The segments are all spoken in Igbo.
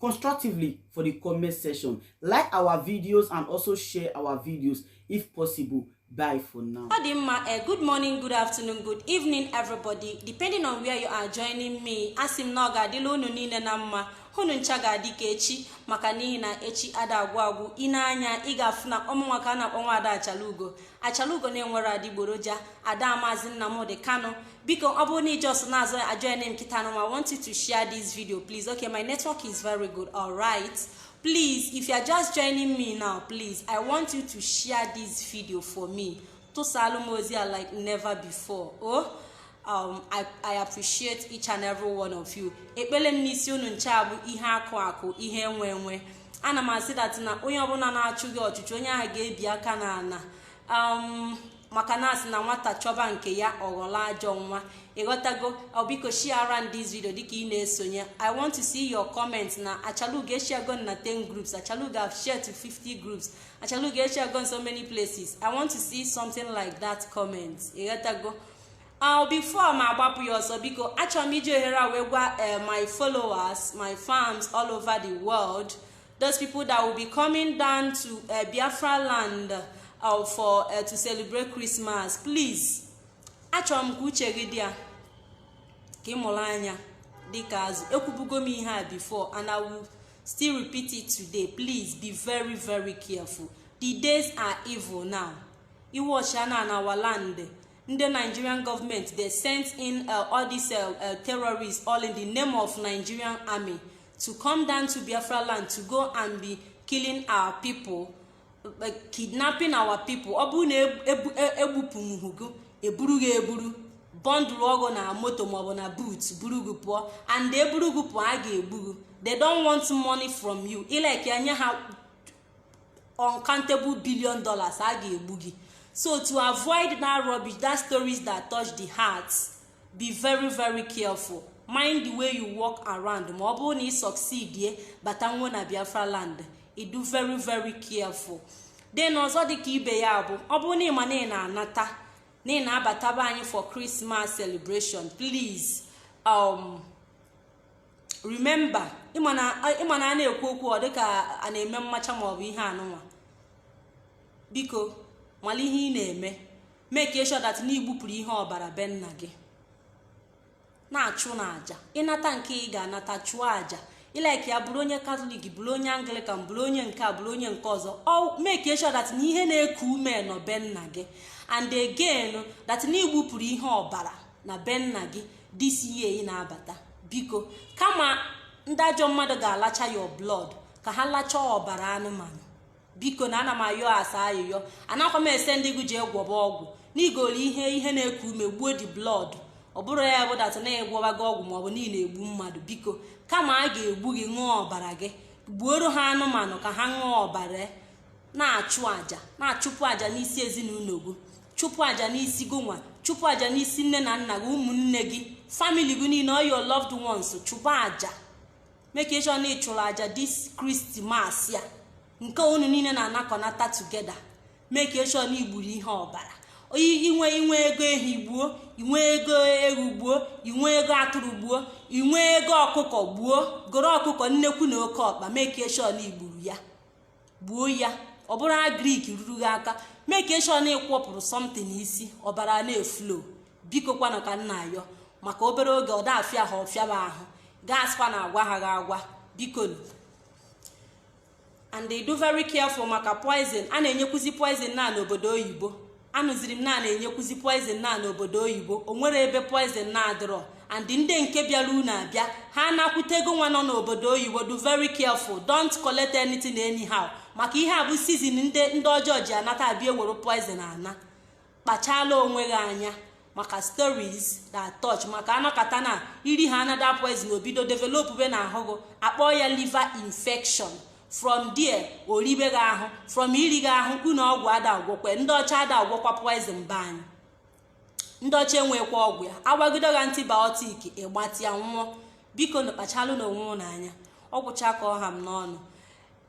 constructively for the comment section. Like our videos and also share our videos if possible. Bye for now. Ọ dị mma, uh, good morning, good afternoon, good evening, everybody. Depending on where you are joining me, asị m na ọ ga-adịla unu niile na mma unu ncha ga-adị ka echi maka n'ihi na echi ada agwụ agwụ ị nee anya ị ga-afụ na ọ mụnwa ka a na-akpọ nwaada achalugo achalugo na-enwerọ adịgboroja ada mazị nnamdị kanu biko ọ bụrụ na ị just na-ajoin m kịta nwa I want you to share this video please okay my network is very good all right please if you are just joining me now please I want you to share this video for me tụsaalụ m ozi a like never before oh um, I, I appreciate each and every one of you ekpele m n'isi unu ncha bụ ihe akụ akụ ihe enwe enwe ana m asị that na onye ọbụla na-achụ gị ọchụchụ onye ahụ ga-ebi aka n'ana um, maka na a sị na nwata chọba nke ya ọ ghọla ajọ nwa ịghọtago o biko shiara m this video dịka ị na-esonye i want to see your comment na achalugo eshiago na 10 groups achalugo have shared to 50 groups achalugo eshiago in so many places i want to see something like that comment ịghọtago Uh, before mụ agbapụ ya ọsọ biko achọrọ m iji ohere a wee gwa eh, my followers my fans all over the world those people that will be coming down to uh, biafra land uh, for uh, to celebrate christmas please achọrọ m ka uche gị dị ya ka ị mụrụ anya dịka azụ ekwubugo m ihe a before and i will still repeat it today please be very very careful the days are evil now ị wọchịa na na our land ndị nigerian government they send in uh, all these uh, uh, terrorists all in the name of nigerian army to come down to biafra land to go and be killing our people eh, kidnapping our people ọ bụrụ na egbupụghị gị eburu gị eburu bọndụlụọ gị na moto maọbụ na boot buru gị pụọ and eburu gị pụọ a ga-egbu gị they don't want money from you ị like nye ha uncountable billion dollars a ga-egbu gị so to avoid that rubbish that stories that touch the heart be very very careful mind the way you walk around ma ọ bụrụ na ị succeedie batanwuo na biafra land ị dị very very careful then ọzọ dịka ibe ya bụ ọ bụrụ na ị ma na ị na-anata na ị na-abata be anyị for Christmas celebration please um remember ị ma na ị ma na a na-ekwu okwu ọ dịka a na-eme mmacha ma ọ bụ ihe anụnwa biko mala ihe ị na-eme make sure that na i gbupụrụ ihe ọbara be nna gị na-achụ n'aja ị nata nke ị ga-anata chụọ aja ị laikịa bụrụ onye katọlik bụrụ onye anglikan bụrụ onye nke a bụrụ onye nke ọzọ o make sure that na ihe na-eku ume nọ be nna gị and again that na i gbupụrụ ihe ọbara na be nna gị this year ị na-abata biko kama ndị ajọ mmadụ ga-alacha your blood ka ha lachaa ọbara anụmanụ bikonụ ana m ayọsa ayịyọ anakwa m asị ndị gị jee gwọba ọgwụ n'igoli ihe ihe na-eku ume gbuo di blood ọ bụrọ ya bụ dat na ị gwọbago ọgwụ maọbụ na ị na-egbu mmadụ biko kama a ga-egbu gị ṅụọ ọbara gị gbuoro ha anụmanụ ka ha ṅụọ ọbara na-achụ aja na-achụpụ aja n'isi ezinụlọ gị chụpụ aja n'isi gị nwa chụpụ aja n'isi nne na nna gị ụmụnne gị famili gị niile all your loved ones chụpụ aja make sure na ị chụrụ aja dis krismas a nke unu niile na-anakọnata tugeda make sure na i gburu ihe ọbara i nwe i nwee ego ehi gbuo i nwee ego ewu gbuo i nwee ego atụrụ gbuo i nwee ego ọkụkọ gbuo goro ọkụkọ nnekwu na oke ọkpa make sure na i gburu ya gbuo ya ọ bụrụ agrik ruru gị aka make sure na ị kwọpụrụ something isi ọbara na-eflo biko kwanụ ka m na-ayọ maka obere oge ọ dafịa ha ọ fịaba ahụ ga-asịkwa na agwa ha gị agwa bikonụ and dụ very careful maka poison a na-enyekwuzi poison na n'obodo oyibo anụziri m na a na-enyekwuzi poizin na n'obodo oyibo o nwerọ ebe poizin na-adịrọ and ndị nke bịara unu abịa ha nakwutego nwa nọ n'obodo oyibo dụ very careful don't collect anything anyhow maka ihe a bụ sizin ndị ndị ọjọọ ji anata abịa ewere poizin ana kpachala onwe gị anya maka stories that touch maka a nọkata na iri ha anada poison o bido developbe n'ahụ gị a kpọọ ya liver infection from there o ribe gị ahụ from iri gị ahụ ị ṅụọ ọgwụ ada agwọkwe ndị ọcha ada agwọkwa poison be anyị ndị ọcha enwekwa ọgwụ ya a gbagido gị antibiotic ị gbatịa nwụọ bikonụ kpachalụnụ onwe ụnụ anya ọ gwụcha ka ọ ha m n'ọnụ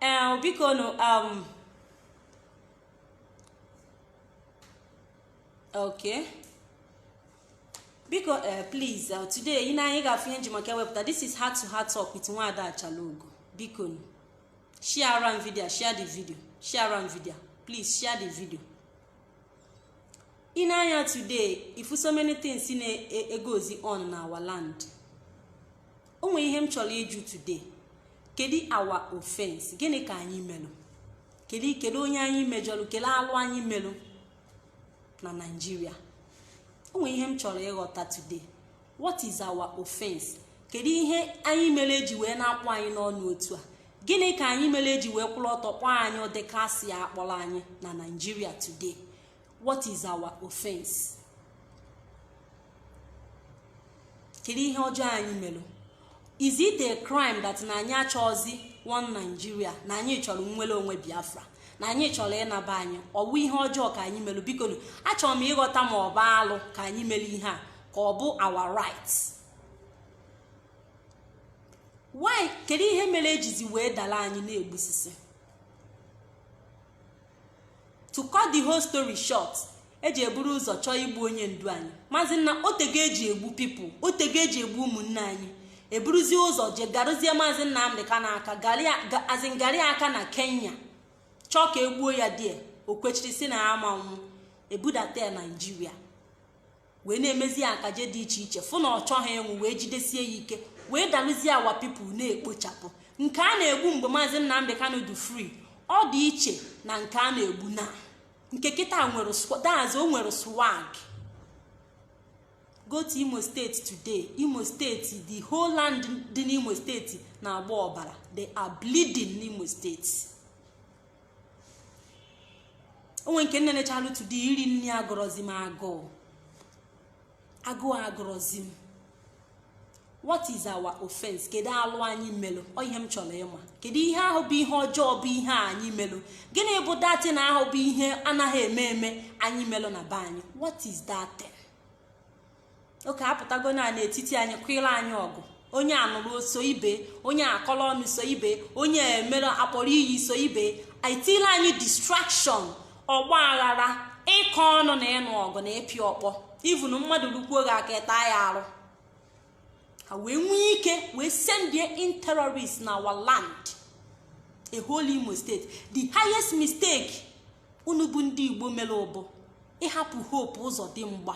ee bikonụ um, okay biko eh, please eh, today ị nee anya ị ga-afụ ihe e ji maka ewepụta this is heart to heart talk with nwada achalugo biko share around video share the video share around video please share the video ị nee anya today ị fụ so many things na-egozi on na our land o nwere ihe m chọrọ ịjụ today kedu our offense gịnị ka anyị melụ kedu kedu onye anyị mejọrọ kedu alụ anyị melụ na naijiria o nwere ihe m chọrọ ịghọta today what is our offense kedu ihe anyị mere eji wee na-akpọ anyị n'ọnụ otu a gịnị ka anyị mere eji wee kwụrụ ọtọ kpọọ anyị ụdị asị a a kpọrọ anyị na naijiria today what is our offense kedu ihe ọjọọ anyị mere is it a crime that na anyị achọghịzi one Nigeria na anyị chọrọ nnwere onwe Biafra na anyị chọrọ ịna be anyị ọ wụ ihe ọjọọ ka anyị mere biko achọrọ m ịghọta ma ọ bụ alụ ka anyị mere ihe a ka ọ bụ our right why kedu ihe mere ejizi wee dala anyị na-egbusisi to cut the whole story short eji eburu ụzọ chọọ igbu onye ndu anyị maazị nna o tego eji egbu people o tego eji egbu ụmụnne anyị eburuzie ụzọ je garụzie maazị nnamdị kanụ aka azịngarị aka na kenya chọọ ka egbuo ya there o kwechiri sị na ama nwụ ebudata ya naijiria wee na-emezi ya akaje dị iche iche fụ na ọ chọghị ịnwụ wee jidesie ya ike wee dalụzie our people na-ekpochapụ nke a na-egbu mgbe maazị nnamdị kanụ dị free ọ dị iche na nke a na-egbu na nke kịta nwere that's o nwere swag go to imo steeti today imo steeti the whole land dị n'imo steeti na-agba ọbara they are bleeding n'imo steeti o nwe nke m nenechalụ today iri nri agụrọzi m agụụ agụụ agụrọzi m what is our offense kedu alụ anyị melụ ọ ihe m chọrọ ịma kedu ihe ahụ bụ ihe ọjọọ bụ ihe anyị melụ gịnị bụ that thing ahụ bụ ihe anaghị eme eme anyị melụ na be anyị what is that okay apụtago na n'etiti anyị kwụla anyị ọgụ onye anụrụ so ibe onye akọrọ ọnụ so ibe onye emere akpọrọ iyi so ibe etila anyị distraction ọgba aghara ịkọ ọnụ na ịnụ ọgụ na ịpịa ọkpọ even mmadụ rukwuo gị aka ị taa ya arụ ha wee nwee ike wee sendie in terrorist na our land a whole imo state the highest mistake unu bụ ndị igbo mere bụ ịhapụ hope ụzọdịmgba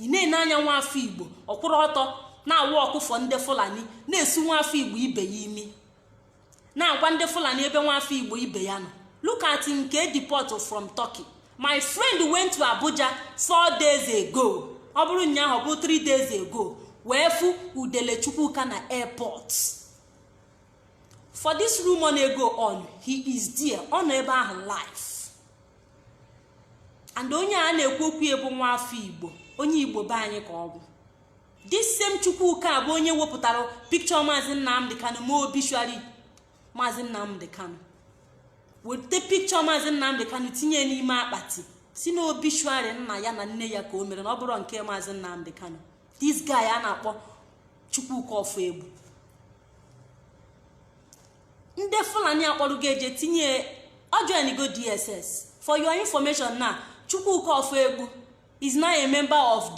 ị na-ene anya nwa afọ igbo ọ kwụrụ ọtọ na-aworkụ for ndị fulani na-esu nwa afọ igbo ibe ya imi na-agwa ndị fulani ebe nwa afọ igbo ibe ya nọ look at nke e deportụ from turkey my friend went to abuja four days ago ọ bụrụ ụnyaahụ ọ bụ three days ago wee fụ udele chukwuka na airport for this room on ego on he is there ọ nọ ebe ahụ live and onye a na-ekwu okwu ya bụ nwa afọ igbo onye igbo be anyị ka ọ bụ this same chukwuka bụ onye wepụtara picture maazị nnamdị kanụ mee obituary maazị nnamdị kanụ weta picture maazị nnamdị kanụ tinye n'ime akpati sị na obituary nna ya na nne ya ka o mere na ọ bụrụ nke maazị nnamdị kanụ this guy a na-akpọ chukwuka ọfọegbu ndị fulani akpọrọgo ya je tinye ọ joinigo dss for your information na chukwuka ọfọegbu is now a member of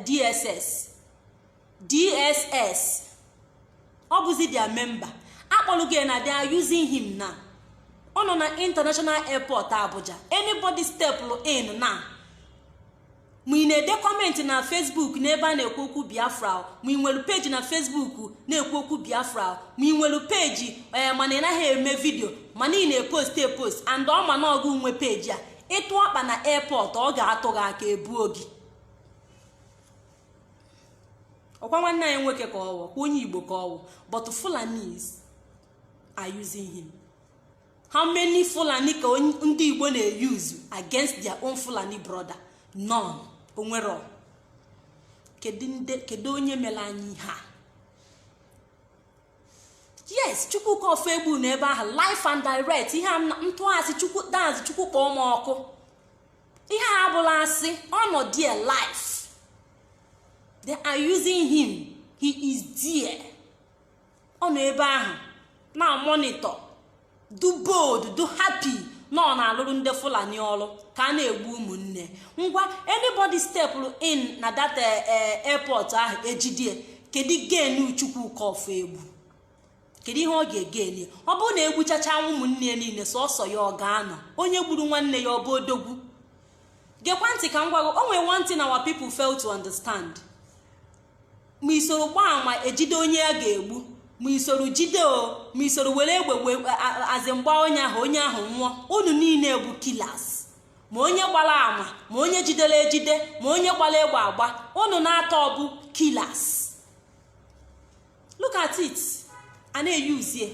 dss eh, dss ọ bụzi their member akpọrọgo ya na they are using him na ọ nọ na international airport abuja anybody stepụrụ in na ma ị na-ede comment na facebook n'ebe a na-ekwu okwu biafra ma ị nwere peji na facebook na-ekwu okwu biafra ma ị nwere peji ee eh, mana ị naghị eme vidio mana ị na-epost epost and ọ ma na ọ gị nwe peji a ị tụ ọkpa na airport ọ ga-atụ gị aka ebuo gị ọ kwa nwanne anyị nwoke ka ọ wụ kwa onye igbo ka ọ wụ but fulanis are using him how many fulani ka ndị igbo na-euse against their own fulani brother none o nwere kedu onye mere anyị ihe a yes chukwuka ọfọegbu nọ ebe ahụ live and direct ihe m tụọ asị chukwu that is chukwu kpọọ m ọkụ ihe a abụrọ asị ọ nọ there live they are using him he is there ọ nọ ebe ahụ na-amonitor dị bold dị happy na ọ na-alụrụ ndị fulani ọrụ ka a na-egbu ụmụnne ngwa anybody stepụrụ in na that eh, eh, airport ahụ e jide ya kedu gain chukwuka ọfọegbu kedu ihe ọ ga-egain ọ bụrụ na e gbuchachaa ụmụnne ya niile sọsọ ya ọ ga-anọ onye gburu nwanne ya ọ bụ odogwu gekwa ntị ka m gwa gị o nwere one thing our people fail to understand ma i soro gbaa ama ejide onye a ga-egbu ma i soro jide o ma i soro were egbe as in gbaa onye ahụ onye ahụ nwụọ unu niile bụ killers ma onye gbara ama ma onye jidere ejide ma onye gbara egbe agba unu na atọ bụ killers look at it a na-euse ya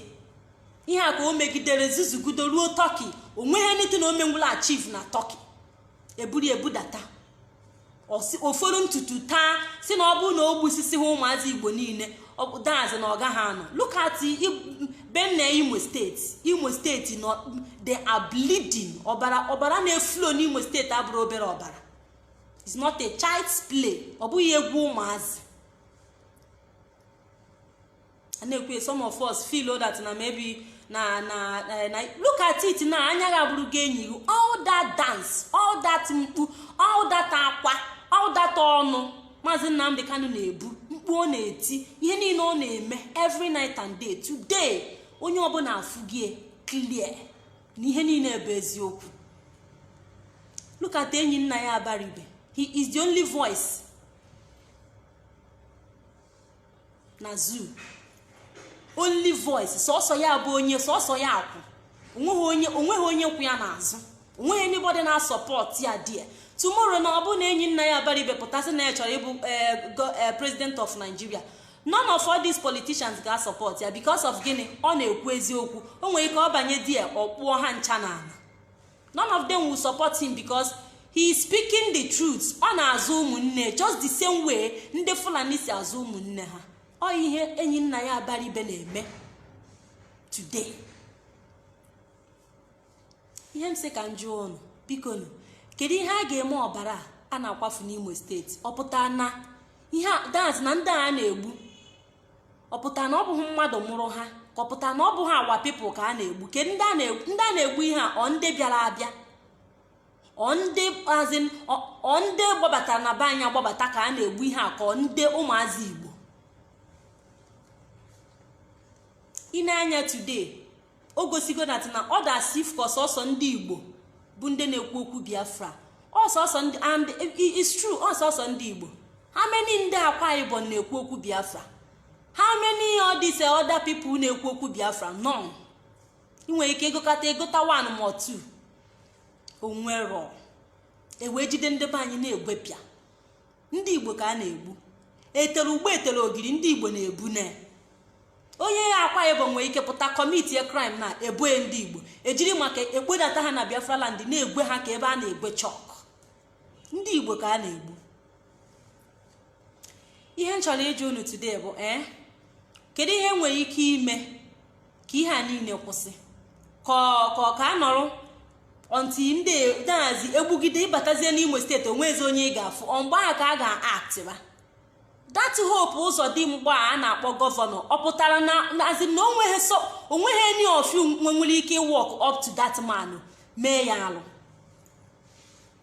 ihe a ka o megidere zuzugido ruo turkey o nweghị nothing o menwuru achieve na turkey e buru ya budata ọ fọrọ ntutu taa sị na ọ bụrụ na o gbusisighị ụmụazị igbo niile that is na ọ gaghị anọ look at be nne imo steeti imo steeti they are bleeding ọbara ọbara na-eflow n'imo steeti abụrọ obere ọbara it's not a child's play ọ bụghị egwu ụmụazị na-ekwu some of us feel that na maybe na na eh, na look at it na anya gị abụrụgo enyo gị all that dance all that mkpu all that akwa all that ọnụ maazị nnamdi kanu na-ebu mkpu ọ na-eti ihe niile ọ na-eme every night and day today onye ọbụla afụgo ya clear na ihe niile bụ eziokwu look at enyinnaya abaribe he is the only voice na zoo only voice sọsọ ya bụ onye sọsọ ya kwụ onweghị onye kwụ ya n'azụ onweghị anybody na-asupport ya there tomorrow na ọ bụ na enyinnaya abaribe pụta sị na ya chọrọ ịbụ eh, eh, president of nigeria none of all these politicians ga-asupport ya because of gịnị ọ na-ekwu eziokwu o nwere ike ọ banye there ọ kpụọ ha ncha n'ala none of them will support him because he is speaking the truth ọ na-azụ ụmụnne just the same way ndị fulani si azụ ụmụnne ha ọ ihe enyinnaya abaribe na-eme today ihe m sị ka m jụọ ụnụ bikonụ kedu ihe a ga-eme ọbara a na-akwafu n'imo steeti ọ pụta na ihe a na ndị a na-egbu ọ pụta na ọ bụghị mmadụ mụrụ ha ka ọ pụta na ọ bụghị our people ka a na-egbu ke ndị a na-egbu ihe a ọ ndị bịara abịa ọ ndị as in ọ ndị gbabatara na be anyị agbabata ka a na-egbu ihe a ka ọ ndị ụmụazị igbo i nee anya today o gosigo that na ọ dị as if ka ọ sọsọ ndị igbo bụ ndị na-ekwu okwu biafra ọ sọsọ ndị and it's true ọ sọsọ ndị igbo how many ndị akwa ibom na-ekwu okwu biafra how many all these eh, other people na-ekwu okwu biafra none ị nwere ike ịgụkọta ịgụta one ma two onwero e wee jide ndị be anyị na-egwepịa ndị igbo ka a na-egbu e tere ugba e tere ogiri ndị igbo na-ebu na onye akwa ibom nwee ike pụta commitịa crime na e boo ndị igbo ejiri maka ekpodata ha na biafra land na-egwe ha ka ebe a na-egwe chalk ndị igbo ka a na-egbu ihe m chọrọ ịjụ unu today bụ ee eh, kedu ihe nwere ike ime ka ihe a niile kwụsị ka ka ka a nọrọ until ndị dazi egbugide ịbatazie n'imo steeti onwezi onye ị ga-afụ ọ mgbe ahụ ka a ga-actịba that hope ụzọdịmgba a na-akpọ governor ọ pụtara na azị na onweghị any of you nwere ike walk up to that man mee ya alụ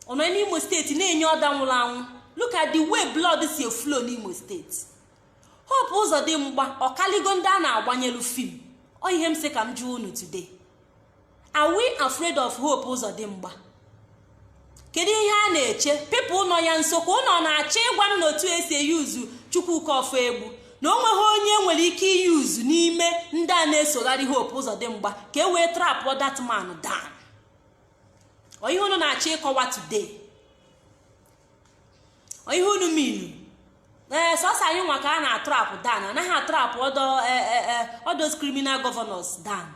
ọ nọ n'imo steeti na-enye order nwụrụ anwụ look at the way blood si eflow n'imo steeti hope ụzọdịmgba ọ kaligo ndị a na-agbanyelu film ọ ihe m sị ka m jụọ unu today are we afraid of hope ụzọdịmgba kedu ihe a na-eche people nọ ya nso ka unu na-achọ ịgwa m na otu e si e-use chukwuka ọfọegbu na o nweghị onye e nwere ike i-use n'ime ndị a na-esogharị hope ụzọdịmgba ka e wee trapụ that man down ọ ihe unu na-achọ ịkọwa today ihe unu minu ee sọsọ anyị nwa ka a na-atrapụ dan anaghị atrapụ other e, e, e, other criminal governors down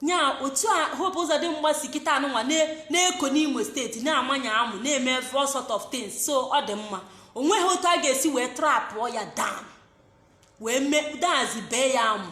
nya otu a hope ụzọdịmgba si kịtaa nụnwa na-eko n'imo steeti na-amanye amụ na-eme all sort of things so ọ dị mma o nweghị otu a ga-esi wee trapụọ ya down wee mee dazi bee ya amụ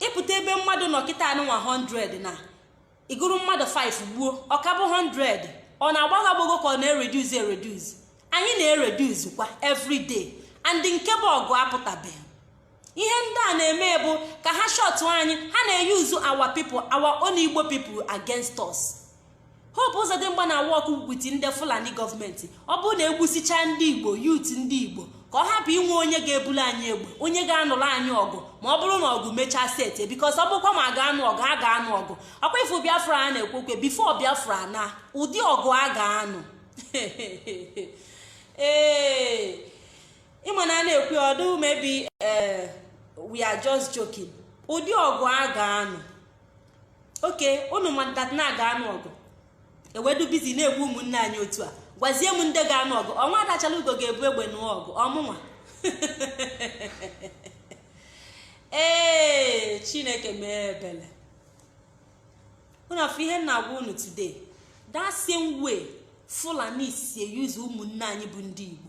ị pụta ebe mmadụ nọ kịtaa nụnwa 100 na ị gụrụ mmadụ 5 gbuo ọ ka bụ 100 ọ na-agbago agbago ka ọ na-ereduzi ereduzi anyị na-ereduzi kwa everyday and nke bụ ọgụ apụtabeghị ihe ndị a na-eme bụ ka ha shọtụ anyị ha na-eyuzu our people our own igbo people against us. hope ụzọdịmgba na-awork with ndị fulani gọọmenti ọ bụrụ na egbusichaa ndị igbo youth ndị igbo ka ọ hapụ inwe onye ga-ebulu anyị egbe onye ga-anụrụ anyị ọgụ ma ọ bụrụ na ọgụ mechaa set because ọ bụkwa ma ga-anụ ọgụ a ga-anụ ọgụ ọ kwa ị fụ biafra a na-ekwu okwu before biafra na ụdị ọgụ a ga-anụ ee ị ma na a na-ekwu ọ dụ maybe eh, we are just joking ụdị ọgụ a ga-anụ okay unu ma that na a ga-anụ ọgụ ewedu busy na-egbu ụmụnne anyị otu a gwazie m ndị ga-anụ ọgụ ọnwa adachala ugo ga-ebu egbe nụọ ọgụ ọ mụnwa ee chineke mee ebele unu afụ ihe m na-agwa unu today that same way fulani si eyuzu ụmụnne anyị bụ ndị igbo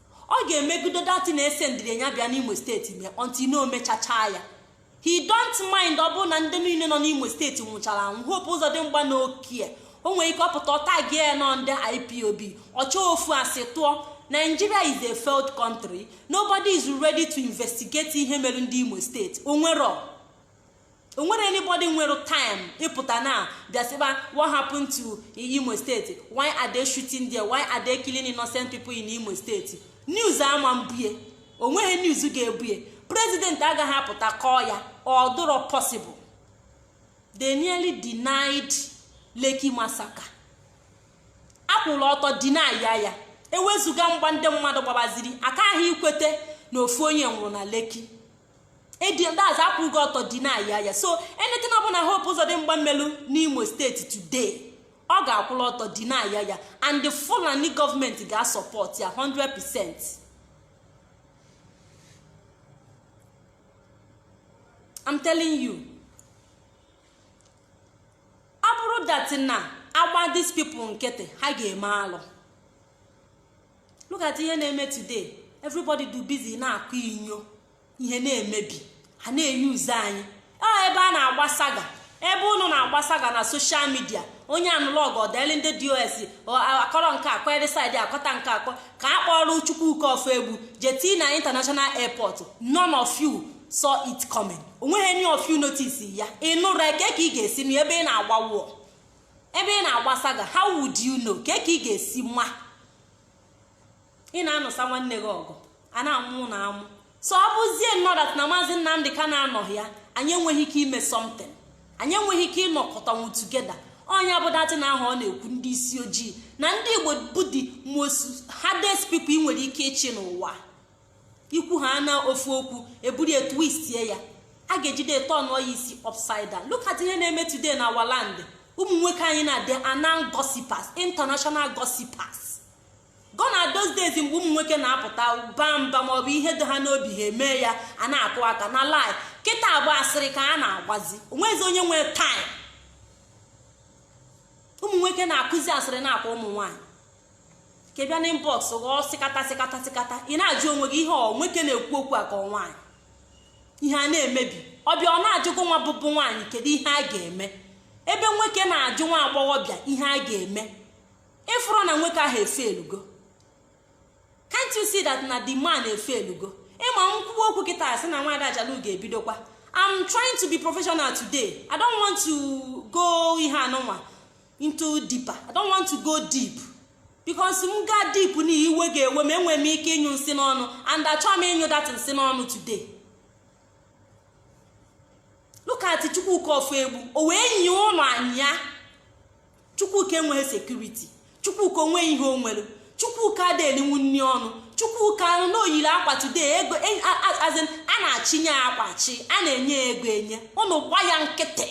ọ ga-emegido that na e sendịrị ya bịa n'imo steeti mee until na o mechachaa ya he don't mind ọ bụrụ na ndị niile nọ n'imo steeti nwụchara anwụ hope ụzọdịmgba na okay o nwere ike ọ pụta ọ tagie ya na ọ ndị ipob ọ chọọ ofu asị tụọ nigeria is a failed country nobody is ready to investigate ihe mere ndị imo steeti o nwerọ o nwere anybody nwere time ịpụta na bịa sịba what happened to imo steeti why are they shooting there why are they killing innocent people in imo steeti news ama ebu e o nweghị news ga-ebu e president agaghị apụta kọọ ya ọ dụrọ possible they nearly denied Lekki massacre a kwụrụ ọtọ deny ya ya ewezuga mgba ndị mmadụ gbabaziri ka ha kwete na ofu onye nwụrụ na Lekki edindazi akwụgo ọtọ deny ya ya so anything ọbụla hope ụzọdịmgba melu n'imo steeti today ọ ga-akwụla ọtọ deny ya ya and the fulani gọọmenti ga-asupport ya 100 percent I'm telling you ọ bụrụ that na a gba these people nkịtị ha ga-eme alụ look at ihe na-eme today everybody dụ busy na-akụ inyo ihe na-emebi ha na-eyuzu anyị ọ ah, ebe a na-agba saga ebe ụnụ na-agba saga na social media onye anụlọg ọdeli ndị dos akọrọ nke akọ erisaid akọta nke akọ ka a kpọrọ chukwuka ofoegbu jete na international airport none of you saw it coming onweghị any of you notice ya ịnụrụ kee ka ị ga-esi na ebe ị na-agba wụọ ebe ị na-agbasa ga how would you know kee ka ị ga-esi ma ị na-anụsa nwanne gị ọgụ a na-amụ na amụ so ọ bụzie now that na maazị nnamdị kanu anọghị ya anyị enweghị ike ime something anyị enweghị ike ịnọkọtanwu together onye bụ datị na ahụ ọ na-ekwu ndị isi ojii na ndị igbo bụ the most hardest people ị nwere ike ịchị n'ụwa ikwu ha na ofu okwu e buru ya twistie ya a ga-ejide tọnụọ ya isi upside down look at ihe na-eme today na our land ụmụ nwoke anyị na they are now gossipers international gossipers gone are those days mgbe ụmụ nwoke na-apụta baa mba maọbụ ihe dị ha n'obi ha eme ya a na-akụ aka na lai kịta agba asịrị ka a na-agbazi onwezi onye nwee time ụmụ nwoke na-akụzi asịrị na-aka ụmụ nwaanyị ka bịa na inbox ghọọ sịkata sịkata sịkata ị na-ajụ onwe gị ihe ọ nwoke na-ekwu okwu a ka nwaanyị ihe a na-emebi ọ bịa ọ na-ajụ gụnwa bụbụ nwaanyị kedu ihe a ga-eme ebe nwoke na-ajụ nwa agbọghọbịa ihe a ga-eme ị fụrụ na nwoke ahụ efailugo can't you see that na the man efailugo ị ma m kwuwa okwu kịta a sị na nwaada achalugo ebidokwa I'm trying to be professional today I don't want to go ihe anụnwa into deeper i don't want to go deep because m gaa deep na iwe ga-ewe m enwere m ike ịnyụ nsị n'ọnụ and achọghị m ịnyụ that nsị n'ọnụ today look at chukwuka ofoegbu o wee nye ụnụ anya chukwuka enweghị security chukwuka onweghị ihe o nwere chukwuka adị elinwu nri ọnụ chukwuka anụ na o yiri akwa today ego e- a na-achịnye akwachi a na-enye ego enye ụnụ gba ya nkịtị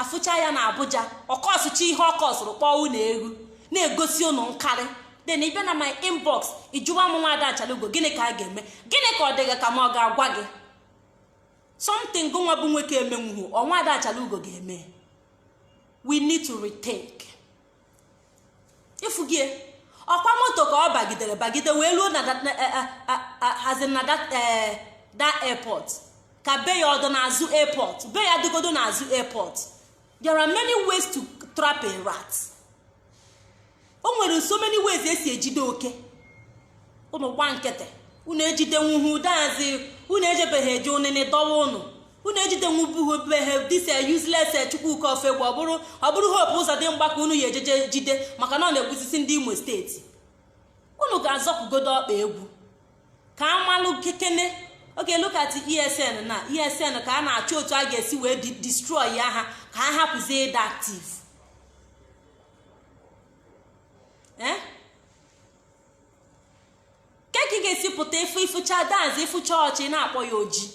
afụcha ya na abuja ọ kọsụcha ihe ọ kọsụrụ kpọọ unu egwu na-egosi ụnụ nkarị then ị bịa na my inbox ịjụwa m nwa ada achalugo gịnị ka a ga-eme gịnị ka ọ dị gị ka mụ ga-agwa gị something gụnwa bụ nwoke emenwuhu ọ nwa ada achalugo ga-eme we need to rethink ịfụgie ọkwa moto ka ọ bagidere bagide wee ruo na hazi na that airport ka be ya ọ dụ n'azụ airport be ya dịgodo n'azụ airport there are many ways to trap a rat o nwere so many ways e si ejide oke ụnụ gba nkịtị unu ejidenwuhu dazi unu ejebeghị eje onene dọwa ụnụ unu ejidenwubughị be ha this useless chukwuka ofoegbu ọ bụrụ ọ bụrụ hope uzodimgba ka unu ya-eje je jide maka na ọ na-egbusisi ndị imo steeti unu ga-azọpụgodo ọkpa egwu ka a malụ kekene okay look at esn na esn ka a na-achọ otu a ga-esi wee di- destroy ya ha ka ha hapụzie ịdị active eh? ke ka ị ga-esi pụta ịfụ ịfụcha that's ịfụcha ọcha na-akpọ ya oji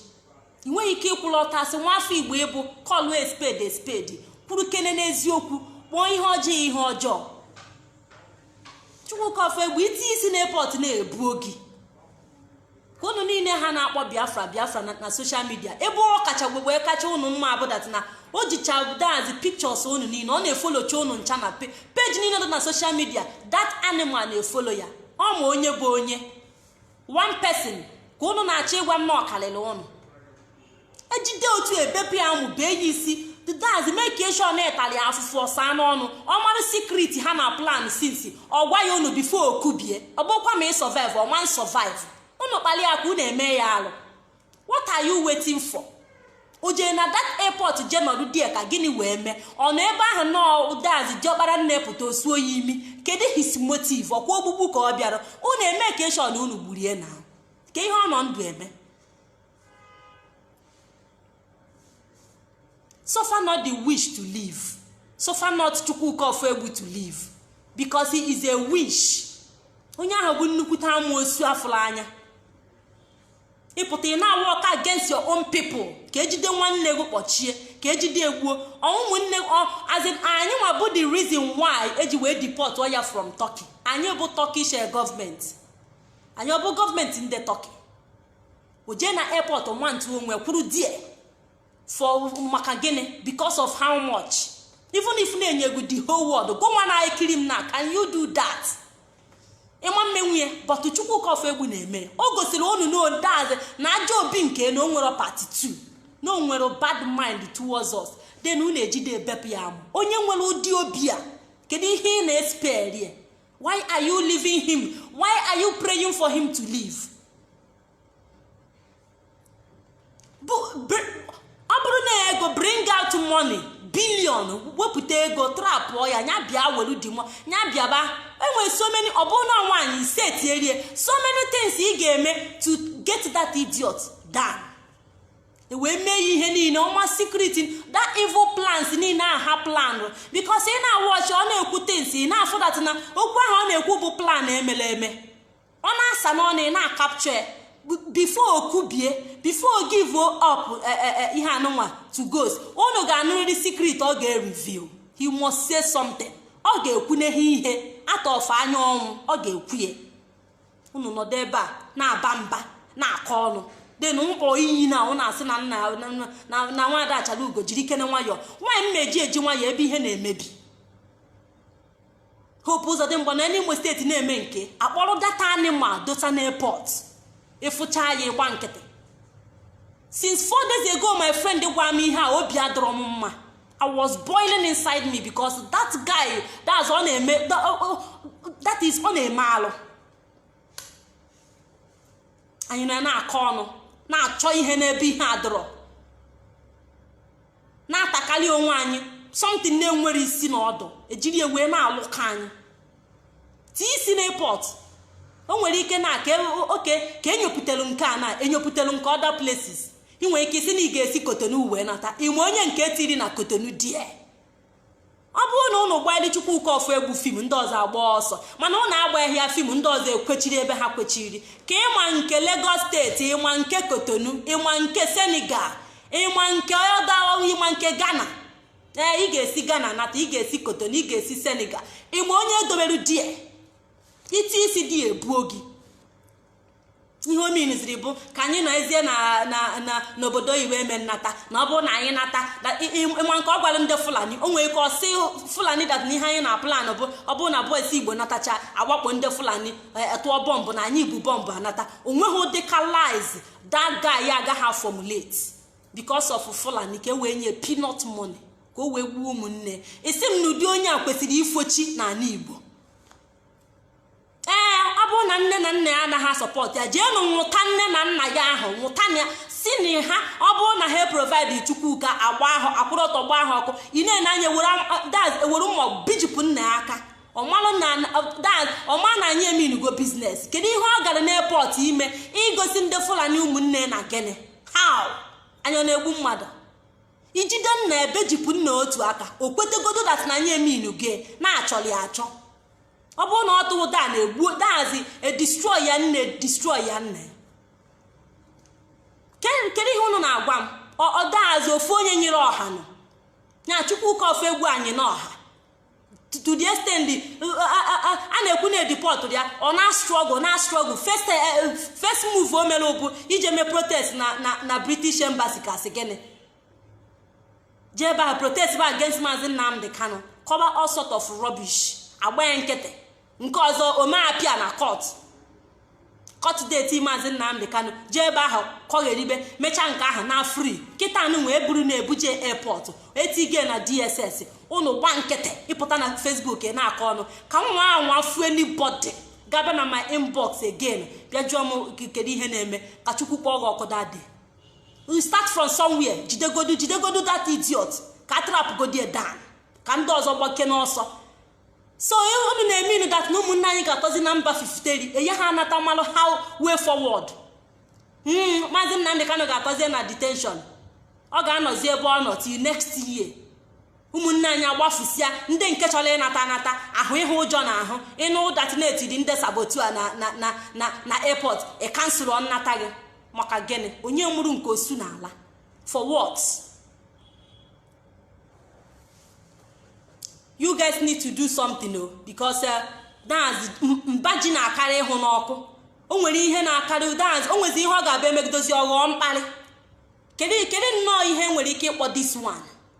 ị nweghị ike ịkwụlụ ọtọ as nwa afọ igbo ị bụ call a spade a spade kwụrụ kene n'eziokwu kpọọ ihe ọjọọ ihe ọjọọ chukwuka ofoegbu etinye isi na airport na-ebu ogi ka unu niile ha na-akpọ biafra biafra na social media ebe ọ kacha egbu mgbu e kacha unu mma a bụ that na o jicha that's pictures unu niile ọ na-efollowcha unu ncha na page niile dị na social media that animal na-efollow ya ọ ma onye bụ onye one person ka ụnụ na-achọ ịgwa m na ọ kalịla ụnụ ejide otu ebepụ ya amụ bee ya isi that's make sure na e tali ya afụfụ ọ saa n'ọnụ ọ maara secret ha na plan since ọ gwa ya unu before o kubie ọ bụkwa ma ị survive ọ ma survive unu kpali ya ka unu eme ya alụ what are you waiting for o jee na that airport jee nọdụ there ka gịnị wee mee ọ nọ ebe ahụ nọọ that's diọkpara nne pụta o suo ya imi kedu his motive ọ kwa ogbugbu ka ọ bịara unu emake sure na unu gburie ya ke ihe ọ nọ ndụ eme suffer not the witch to live suffer not chukwuka ofoegbu to live because he is a witch onye ahụ bụ nnukwute amụosu a fụrụ anya ị pụta ị na-awork against your own people ka e jide nwanne gị kpọchie ka e jide e gbuo ụmụnne as in anyị nwa bụ the reason why e ji wee deport ya from Turkey anyị bụ Turkish eh, gọọmenti anyị ọ bụ gọọmenti ndị Turkey o je na airport nwantu onwe kwụrụ there for maka gịnị because of how much even if na-enye gị the whole world gị nwa na-ekiri m na can you do that? ị ma-emenwu ya but chukwuka ofoegbu na-eme o gosiri unu na o that's na ajọ obi nke na o nwere part 2 na o nwere bad mind towards us then unu ejide ebepụ ya amụ onye nwere ụdị obi a kedu ihe ị na-espare why are you leaving him why are you praying for him to live? ọ bụrụ na ego bring out money billion wepụta ego trapụ ya ya bịa welu the money ya bịaba e nwere so many ọ bụrụ na nwaanyị ị setiere ya so many things ị ga-eme to get that idiot down e wee mee ya ihe niile ọ ma secret that evil plans niile a ha plan because ị na-awatch ọ na-ekwu things ị na-afụ na okwu ahụ ọ na-ekwu bụ plan e mere eme ọ na-asa n'ọnụ ị na-acapture ya before o kubie before give up e, e, e, ihe anụnwa to ghost unu ga-anụrịrị secret ọ ga-reveal he must say something ọ ga-ekwuneghe ihe atọfe anya ọnwụ ọ ga-ekwu ya unu nọdụ ebe a na-aba mba na-akọ ọnụ then mkpọ iyi na unu asị na nna na nwada achara ugo jirikene nwayọọ why m na-eji eji nwayọọ ebe ihe na-emebi hope uzodimgba nọ n'imo steeti na-eme nke a kpọrọ that animal dota n'airport ị fụcha ya ị gba nkịtị since four days ago my friend gwa m ihe a obi adọrọ m mma i was boiling inside me because that guy that's ọ na-eme that is ọ na-eme alụ anyị na na-akọ ọnụ na-achọ ihe n'ebe ihe adọrọ na-atakarị onwe anyị something na-enwerọ isi na ọdụ e jiri ya wee na-alụ ka anyị tii isi na airport o nwere ike na ka oke ka enyopụtelu nke a na enyopụterọ nke other places ị nwere ike ịsị na ị ga-esi cotonou wee nata ị ma onye nke e tiri na cotonou there ọ bụrụ na ụnụ gbalị Chukwuka Ofoegbu film ndị ọzọ agbaa ọsọ mana ụnụ agbaghị ya film ndị ọzọ ekwechiri ebe ha kwechiri ka ị ma nke Lagos steeti ị ma nke Cotonou ị ma nke Senegal ị ma nke Douala ị ma nke Ghana ee ị ga-esi Ghana nata ị ga-esi Cotonou ị ga-esi Senegal ị ma onye e dobere there i ti isi there e buo gị ihe o minziri bụ ka anyị nọzie n'obodo oyibo eme nnata na ọ bụrụ na anyị nata ị ma nke ọ gwara ndị fulani o nwere ike ọ sị fulani that na ihe anyị na-aplan bụ ọ bụrụ na boys igbo natacha a wakpo ndị fulani e, e, tụọ bọmbụ na anyị bu bọmbụ anata o nweghị ụdị ka lies that guy na-agaghị formulate because of fulani ka e wee nye peanut money ka o wee gbuo ụmụnne asị m na ụdị onye a kwesịrị ifochi n'ala igbo ee ọ bụrụ na nne na nna ya anaghị asupport ya jeenụ nwụta nne na nna ya ahụ nwụta nna ya sị na ha ọ bụrụ na ha eprovide chukwuka agba ha a kwụrụ ọtọ gba ha ọkụ ị na-ene anya e were mma bejipụ nna ya aka ọ ma na anyị eminugo business kedu ihe ọ gara n'airport ime igosi ndị fulani ụmụnne na gịnị how onye na-egbu mmadụ i jide nna e bejipụ nna otu aka o kwetegodo that na anyị eminugo na-achọli achọ ọ bụrụ na ọ tụrụ daa na-egbu that is e destroy ya nne destroy ya nna kedu ihe unu na-agwa m ọ that is ofu onye nyịrị ọha nọ ya chukwuka ofoegbu anyịna ọha to the extent a na-ekwu na e deport ya ọ na-astruggle na-astruggle first eh, eh, move o mere bụ ije mee protest na british embassy ka a sị gịnị jee ebe ahụ protest ba against maazị nnamdị kanu kọba all sort of rubbish agba ya nkịtị nke ọzọ o mee appear na court court date maazị nnamdị kanu jee ebe ahụ kọgheribe mechaa nke ahụ na free kịta anụ wee buru na abuja airport etige na dss unu gba nkịtị ị pụta na facebook na-akọ ọnụ ka nwa anwa fue anybody ga-aba na my inbox again bịa jụọ m kedu ihe na-eme ka chukwu kpọọ gị ọkụ dadị we start from somewhere jidegodu jidegodu that idiot ka a trap godi ya down ka ndị ọzọ gbake n'ọsọ so unu na-emeanụ that na ụmụnne anyị ga-atọzi na mba fifiteri enye ha anata malụ how way forward hmm, maazị Nnamdị Kanu ga-atọzie na detention ọ ga-anọzi ebe ọ nọ till next year ụmụnne anyị agbafusịa ndị nke chọrọ ịnata anata ahụ ịhụ ụjọ na ahụ ị nụ that na e tiri ndị saboteur na airport ị cancel nnata gị maka gịnị onye mụrụ nke osu na ala for what you guys need to do something o because uh, that is mba ji na-akarị ịhụ n'ọkụ o nwere ihe na-akarị that is o nwezi ihe ọ ga-abịa emegidozi ọ ghọọ mkparị kedu nnọọ ihe e nwere ike ịkpọ this one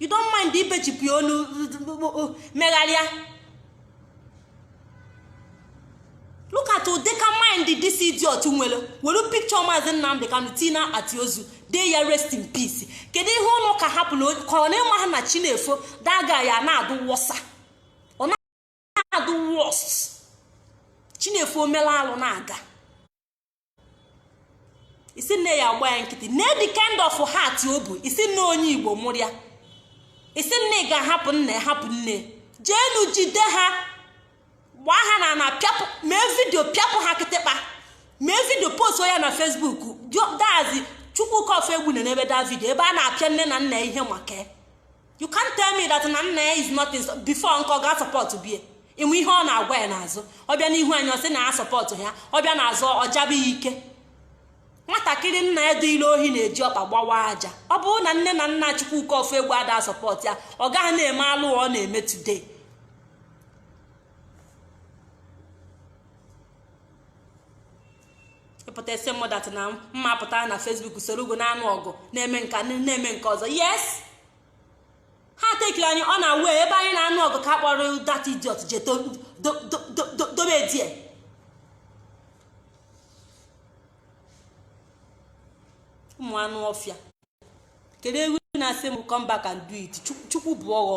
you don't mind ibechipụ ya onu megharịa look at ụdịka mind this idiot nwere were picture maazị nnamdị kanu tii n'akpati ozu dee ya rest in peace kedu ihe unu ka hapụrụ ka ọ na-ema ha na chi na-efo daga ya na-adụ worser na-adụ worst chi na-efo o mela alụ na-aga ị sị m na ya agba ya nkịtị na the kind of heart o bu ị sị m na onye igbo mụrụ ya ị sị m na a ga-ahapụ nne hapụ nne jeenu jide ha gbaa ha na na pịapụ mee video pịapụ ha kịtịkpa mee video post ya na facebook that is chukwuka ofoegbu nenebe the video ebe a na-apịa nne na nna ihe maka you can't tell me that na nna ya is not in before nke ọ ga support bie ị ma ihe ọ na-agwa ya n'azụ ọ bịa n'ihu anyị ọ sị na ya support ya ọ bịa n'azụ ọ jaba ya ike nwatakịrị nna ya dunyelụ ohi na-eji ọkpa agbawa aja ọ bụrụ na nne na nna Chukwuka Ofoegbu ada support ya ọ gaghị na-eme alụ ọ na-eme today ị pụta asị mụ that na mụ apụta na facebook soro ugwu na-anụ ọgụ na-eme nke a na-eme nke ọzọ yes ha take-iri anyị unaware ebe anyị na-anụ ọgụ ka a kpọrọ that idiot je dobe ya there ụmụ anụ ọfịa kedu ihe unu na-asị m come back and do it chukwu bụ ọghọ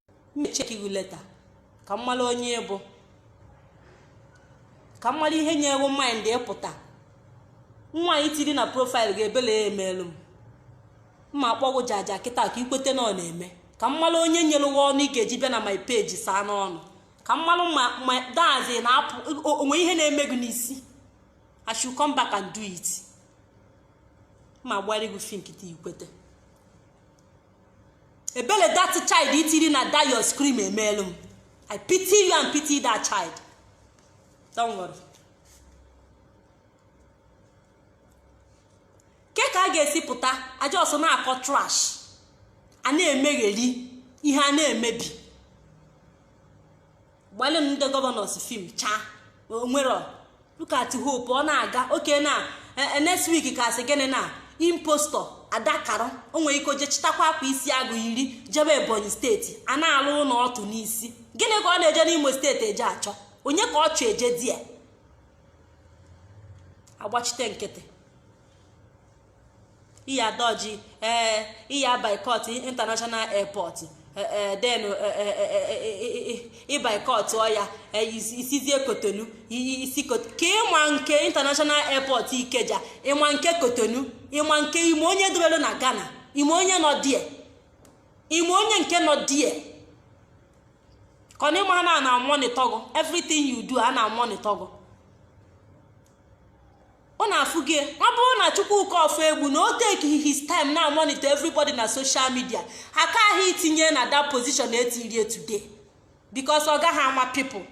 m echeki gị leta ka m mara onye ị bụ ka m mara ihe nyere gị mind ịpụta nwa ahụ i tiri na profaịlụ gị ebele ya emeelu m m ma akpọ gị jaja kịta ka ikwete na ọ na-eme ka m mara onye nyere gị ọnụ ị ga-eji bịa na my page saa m ọnụ ka m mara ma dazi na-apụ onwe ihe na-eme gị n'isi I should come back and do it m ma gbara gị fim kịta ikwete ebele that child itiri na that your screen emeelu m i pity you and pity that child don't worry kee ka a ga-esi pụta a just na-akọ trash a na-emegheri ihe a na-emebi gbalị ndị gọvanọs fim chaa onwere look at hope ọ na-aga oke na e, e, next week ka asị gịnị na impostor adakara o nwere ike o je chịtakwa akwa isi agụ yiri jebe ebonyi steeti a na-alụ ụlọ ọtụ n'isi gịnị ka ọ na-eje n'imo steeti eje achọ onye ka ọ chọ eje di ya agbachite nkịtị iya dodge ee iya boycott international airport then ị boycottọ ya isizie kotonu isi ka ịma nke international airport ikeja ịma nke kotonu ịma nke ịma onye dowelu na ghana ịma onye nọ there ịma onye nke nọ there ka ụnụ ma na a na monitor gị everything you do a na monitor ọ na-afụ gị ọ bụrụ na chukwuka ofoegbu na o take his time na monitor everybody na social media ha ka ahụ itinye na that position etirie today because ọ gaghị ama people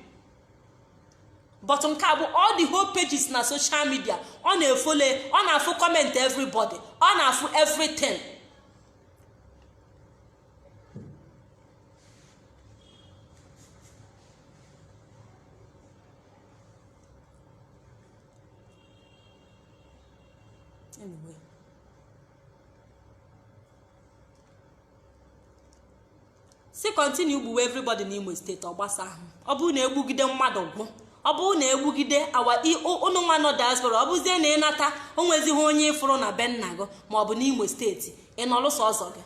but nke a bụ all the whole pages na social media ọ na-efole ọ na-afụ comment everybody ọ na-afụ everything anyway si kọntinu gbuwe everybody n'Imo steeti ọ gbasa ahụ ọ bụrụ na egbugide mmadụ gwụ ọ bụrụ na egbugide awa ụnụ nwa nọ diaspora ọ bụzie na ịnata o nwezighị onye ịfụrụ na be nna gị ma ọ bụ n'Imo steeti ị nọlụ sọsọ gị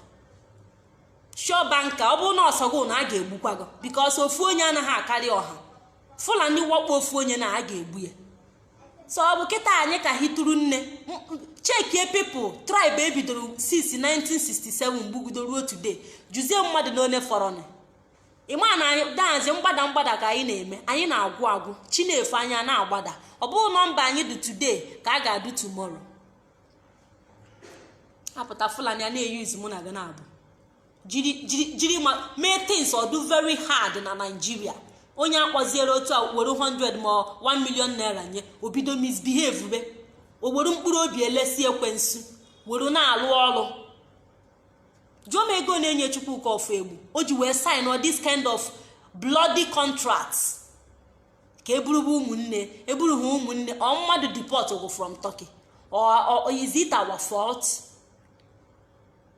sure banker ọ bụrụ na ọ sọ gị na a ga-egbukwa gị because ofu onye anaghị akarị ọha fulani wakpo ofu onye na a ga-egbu ya so ọ bụ kịta anyị ka hituru nne chekie people tribe ebidoro since 1967 gbugido ruo today jụzie mmadụ ole fọrọnụ ịma na anyị dahazi mgbada mgbada ka anyị na-eme anyị na-agwụ agwụ chi na-efo anyị a na-agbada ọ bụghị nọmba anyị dị today ka a ga-adụ tomorrow apụta fulani a na-eyuzu mụ na gị na-abụ jiri jiri jiri ma things ọ dị very hard na naijiria onye akpọziere otu a were 100 ma 1 million naira nye o bido misbehave be o were mkpụrụ obi e lesi ekwensu were na-alụ ọrụ jụọ m ego na-enye chukwuka ọfọegbu o ji wee sign ọ this kind of bloody contract ka eburuba ụmụnne eburu ha ụmụnne ọ mmadụ deport gwụ from turkey or is it our fault?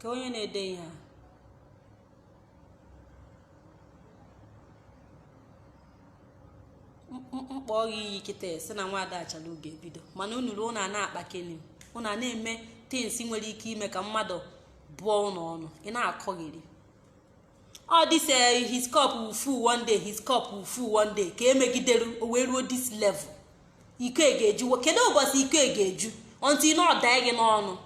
ka onye na-ede ihe a m kpọọ gị iyi kịta si na nwaada achalugo ebido mana unu ruo na na-akpa keni unu a na-eme things nwere ike ime ka mmadụ bụọ unu ọnụ ị na-akọghịrị all this uh, his cup will full one day his cup will full one day ka emegidere o wee ruo this level iko e ga-eju kedu ụbọchị iko e ga-eju until na ọ daa gị n'ọnụ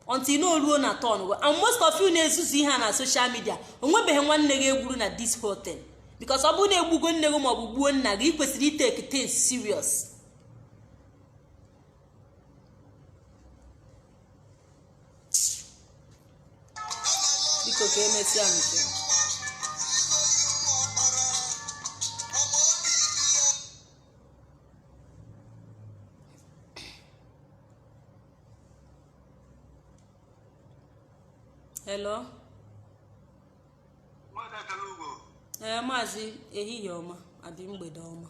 until na o ruo na turn and most of you na-ezuzu ihe a na social media o nwebeghị nwanne gị egburu na this whole thing because ọ bụrụ na egbugo nne gị maọbụ gbuo nna gị ị kwesịrị itake things serious biko ka emesịa eh hello ee maazị ehihie ọma abi mgbede ọma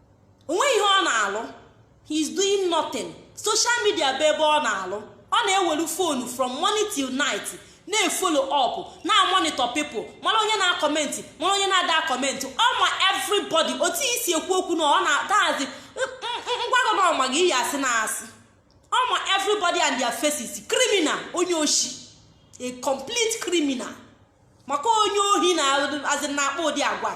o nweghị ihe ọ na-alụ he is doing nothing social media bụ ebe ọ na-alụ ọ na-ewelu fonu from morning till night na-efollow up na-amonitor people mara onye na-akọmentị mara onye na-ada akọmentị ọ ma everybody otu i si ekwu okwu na ọ na-adazi ngwago na ọ ma gị iyi asị na asị ọ ma everybody and their faces criminal onye oshi a complete criminal maka onye ohi naazị na-akpa ụdị agwa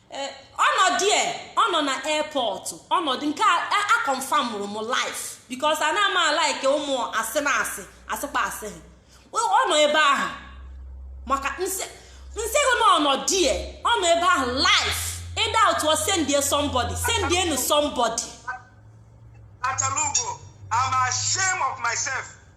eh, ọ nọ there, ọ nọ na airport ọ nọ there nke a confirmụrụ m live because ana m alike ụmụ asị na asị asịkpa asị ọ nọ ebe ahụ maka m sị gị na ọ nọ there, ọ nọ ebe ahụ live ị doubtụa sendie somebody sendie nu somebody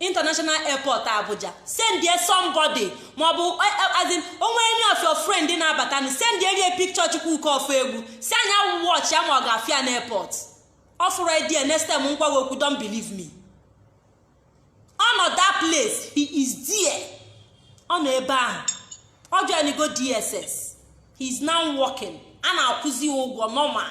international airport abuja sendie somebody maọbụ eh, eh, as in o nwee any of your friend na-abata nụ sendere ya picture chukwuka ọfọegbu sị a nya watch ya ma ọ ga-afụ ya na airport ọ fụrọ ya there next time m gwa gị okwu don't believe me ọ nọ that place he is there ọ nọ ebe ahụ ọ joinigo dss he is now working a na-akwụzi ụgwọ normal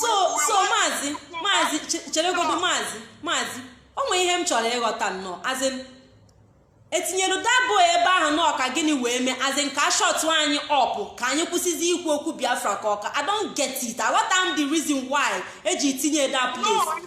so so maazị maazị cheregodo maazị maazị o nwere ihe m chọrọ ịghọta nnọọ as in e tinyere that boy ebe ahụ na ọ ka gịnị wee mee as in ka a shut anyị up ka anyị kwụsịzi ikwu okwu biafra ka ọ ka i don't get it aghọta m the reason why e ji tinye that place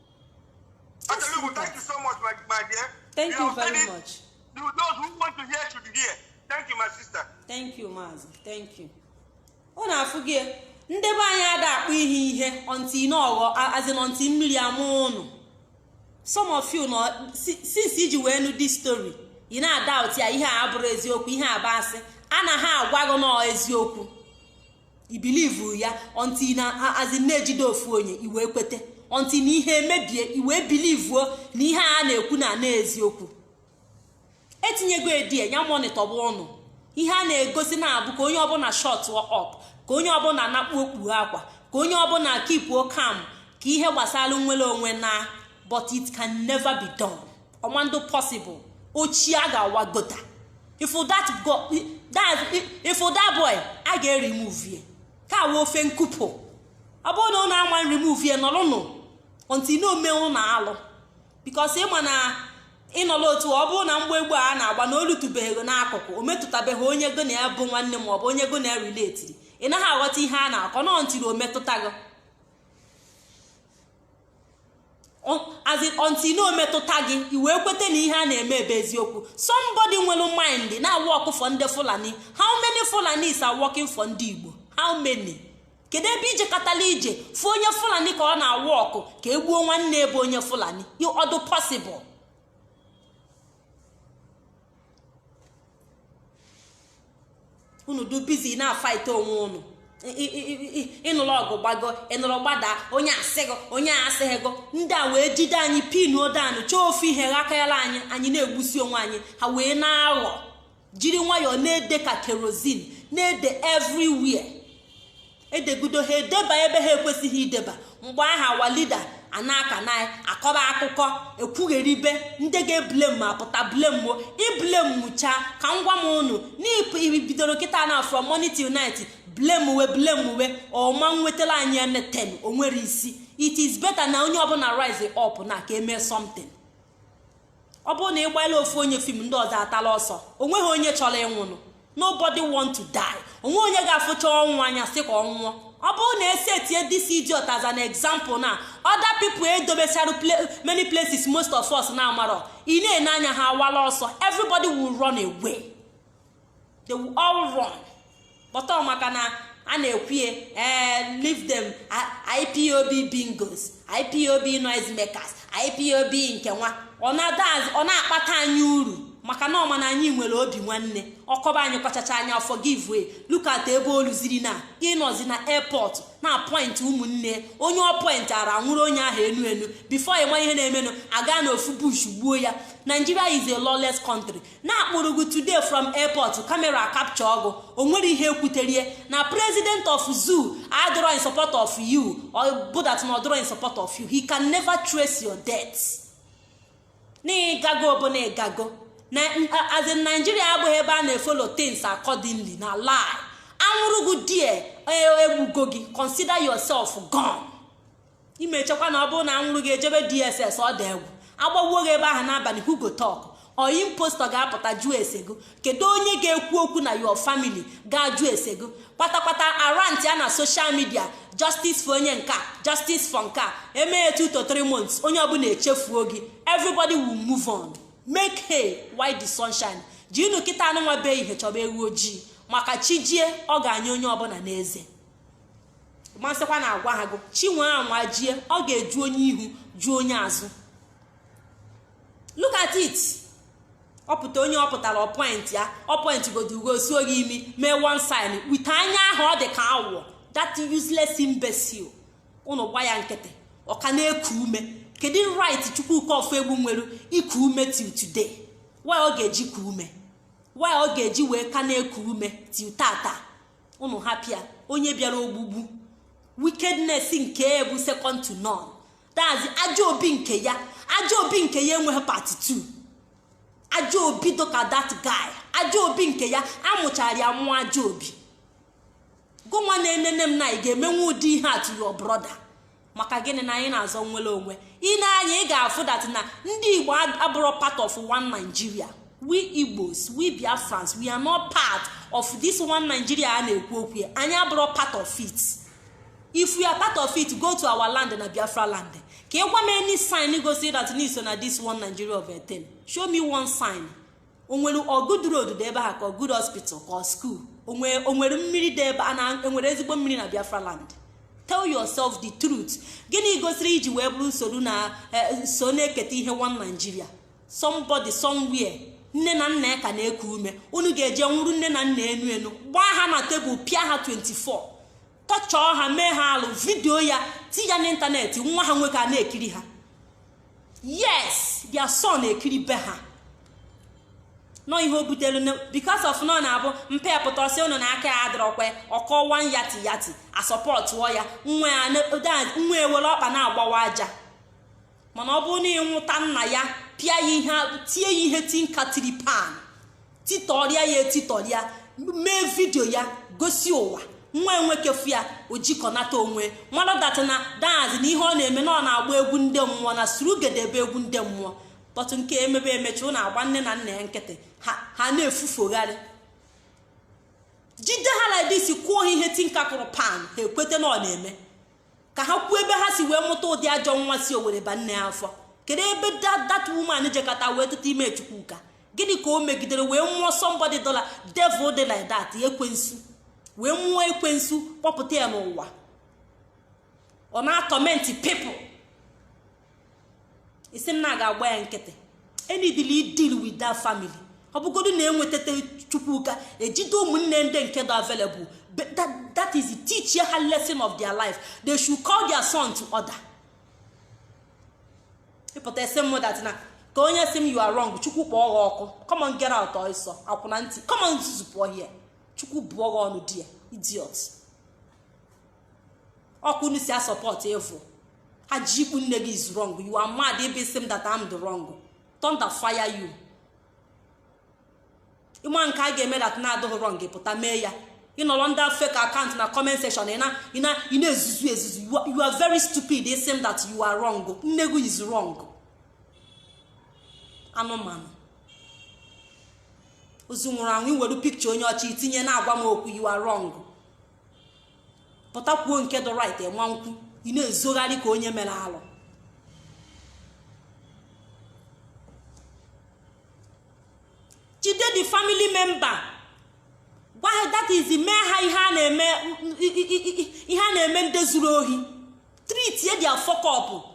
thank you so much, my, my dear. Thank you, you very much. You, those who want to hear should hear. Thank you, my sister. Thank you, Mazi. Thank you. Ọ na-afụ gị ndị be anyị ada akpọ ihe ihe until n'ọghọ as in until mmiri ama ụnụ some of you nọ since i ji wee nụ this story ị na-adoubt ya ihe a abụrọ eziokwu ihe a bụ asị anaghị agwa gị na ọ eziokwu i believe ya until na as in e jide ofu onye i wee kwete until na ihe emebie i wee believe na ihe a na-ekwu na ana eziokwu etinyego edie ya monitor bụ ụnụ ihe a na-egosi na-abụ ka onye ọbụla shut up ka onye ọbụla nakpu okpu akwa ka onye ọbụla keepuo calm ka ihe gbasara nnwere onwe naa but it can never be done. ọ ma-adụ possible ochie a ga-awa gota ị fụ that go that ị fụ that boy a ga-eremove ye ka awa ofe nkupụ ọ bụrụ na ụnụ ama remove ye nọrụnụ until na ome ụnụ alụ because ị ma na ị nọrọ otu ọ bụrụ na mgbe egbe a na-agba na o lutubeghị n'akụkụ o metụtabeghị onye gị na ya bụ nwanne ma ọ bụ onye gị na ya relatiri ị naghị aghọta ihe a na-akọ na until o metụta gị as in until na o metụta gị i wee kweta na ihe a na-eme bụ eziokwu somebody nwere mind na-awork for ndị fulani how many fulanis are working for ndị igbo how many kedu ebe i jekatala i je fụ onye fulani ka ọ na-awork ka e gbuo nwanne ya bụ onye fulani ọ dụ possible unu dụ busy na-afight onwe unu ị nụrụ ọgụ gbago ị nụrụ gbada onye asịghị onye asịghịgo ndị a wee jide anyị pinuo down chọọ ofu ihe ghakayala anyị anyị na-egbusi onwe anyị ha wee na-aghọ jiri nwayọọ na-ede ka kerosene na-ede everywhere edegudo ha edeba ebe ha ekwesịghị ideba mgbe ahụ our leader anaka na akọba akụkọ ekwugheribe ndị ga-eblame apụta blameo i blamechaa ka m gwa unu na i bidoro kịta na from morning till night blamewe blamewe ọ ma nwetara anyị anything nwere isi it is better na onye ọbụla rise up na ka e mee something ọ bụrụ na ị gbala ofu onye fim ndị ọzọ atala ọsọ o nweghị onye chọrọ ịnwụnụ nobody want to die o nweghị onye ga-afụcha ọnwụ anya sị ka ọ nwụọ ọ bụrụ na e setie this idiot as an example na other people e dobechara many places most of us na-amarọ ị na-ene anya ha awala ọsọ everybody will run away. they will all run but ọ maka na a na-ekwu ee eh, leave them ipob bingos ipob noise makers ipob nke nwa ọ na-akpata anyị uru maka na ọ ma na anyị nwere obi nwanne ọ kọba anyị kọchachaa anyị a forgive ya look at ebe o luziri na ị nọzi na airport na-apoint ụmụnne onye ọ pointịara a nwụrụ onye ahụ enu enu before ị ma ihe na-emenụ a gaa na ofu bush gbuo ya Nigeria is a lawless country na a kpụrụ gị today from airport camera captureọ gị o nwere ihe e kwuterie na president of zoo adọrọ in support of you ọ bụ that na ọ dọrọ in support of you he can never trace your death na ị gago bụ na ị gago as in Nigeria abụghị ebe a na-efollow things accordingly na lie a nwụrụ gị there e gbugo gị consider yourself gone. ị ma echekwa na ọ bụrụ na a nwụrụ gị e jebe dss ọ dị egwu a gbagbuo gị ebe ahụ n'abalị who go talk ọ impostor ga-apụta jụọ ese gị kedu onye ga-ekwu okwu na your family ga-ajụ ese gị kpatakpata a rantịa na social media justice for onye nke a justice for nke a e mee 2 to 3 months onye ọbụla echefuo gị everybody will move on make hay while the sun shines jirinụ kịtaa nụnwa bụ ehihie chọba ewu ojii maka chi jie ọ ga-anye onye ọbụla n'eze ma asịkwa na agwaha gị chi nwa anwa jie ọ ga-eju onye ihu ju onye azụ look at it ọ pụta onye ọ pụtara ọ point ya ọ pointgodu gị o suo gị imi mee one sign with anya ahụ ọ dị ka awọ that useless imbecile unu gba ya nkịtị ọ ka na-eku ume kedu right Chukwuka Ofoegbu nwere iku ume till today why ọ ga-eji ku ume why ọ ga-eji wee ka na-eku ume till taata unu hapụ ya onye bịara ogbugbu wickedness nke ya bụ second to none that is ajọ obi nke ya ajọ obi nke ya enweghị part 2 ajọ obi dịka that guy ajọ obi nke ya a mụchara ya mụọ ajọ obi gịnwa na-enene m na ị ga-emenwu ụdị ihe a to your brother maka gịnị na anyị na-azọ nnwere onwe i nee anya ị ga-afụ that na ndị igbo abụrọ part of one nigeria we igbos we biafrans we are not part of this one nigeria a na-ekwu okwu ya anyị abụrọ part of it if we are part of it go to our land na biafra land ka ị gwa m any sign gosi that na i so na this one nigeria of a thing show me one sign o nwere ọ good road dị ebe ahụ ka ọ good hospital ka ọ school o nwere mmiri dị ebe a na e nwere ezigbo mmiri na biafra land tell yourself the truth gịnị gosiri i ji wee bụrụ na i so na-eketa ihe one nigeria somebody somewhere nne na nna ya ka na-eku ume unu ga-eje nwụrụ nne na nna enu enu gbaa ha na tebụl pịa ha 24 torture ha mee ha alụ vidio ya ti ya n'ịntanetị nwa ha nwoke a na-ekiri ha yes their son ekiri ebe ha nọ ihe o butere because of na ọ na-abụ mpa ya pụta ọ sị ụnụ na aka ya adịrọkwa ọ kọwa yati yati asọpọtụọ ya nwa ewere ọkpa na-agbawa aja mana ọ bụrụ na ị nwụta nna ya pịa ya ihe tie ya ihe tinka tiri pan titọrịa ya etitọrịa mee vidio ya gosi ụwa nwa nwoke afụ ojikọnata onwe mara that na that is na ihe ọ na-eme na ọ na-agba egwu ndị mmụọ na surugede bụ egwu ndị mmụọ kpọtụ nke emebe emechi ọ na-agba nne na nna ya nkịtị ha na-efufogharị jide ha like this kụọ ha ihe tinka kụrụ pan ha ekweta na ọ na-eme ka ha kwuo ebe ha si wee mụta ụdị ajọ nwa si owere ba nne afọ kedu ebe that woman jekata wee tụta ime chukwuka gịnị ka o megidere wee mụọ somebody dị like devil dị like that ekwensu wee mụọ ekwensu kpọpụta ya n'ụwa ọ na-atọmenti people ị sị m na a ga-agba ya nkịtị e needili i-deal with that family ọ bụgodu na enwetata chukwuka ejide ụmụnne ndị nke dị available that is teachie ha lesson of their life they should call their son to order ị pụta ị sị mụ that na ka onye sị m you are wrong chukwu kpọọ gha ọkụ come on get out ọsọ akwụna ntị come on zuzupụọ here chukwu bụọ gha ọnụ there idiot ọ ka ụnụ si asọpọt evil ajị ikpu nne gị is wrong you are mad ebe ị sị m that I'm the wrong thunder fire you ị ma nke a ga-eme that na ọ dịghị wrong pụta mee ya ị nọrọ ndị fake account na comment section ị na-ezuzu ezuzu you are very stupid ị sị m that you are wrong nne gị is wrong anụmanụ ozu nwụrụ anwụ i were picture onye ọcha i tinye na-agwa m okwu you are wrong pụta kwuo nke dị right ị ma ekwu ị na-ezogharị ka onye mere alụ jide the family member gwa ha that is mee ha ihe a na-eme ihe a na-eme ndị zuru ohi treatie their fuck up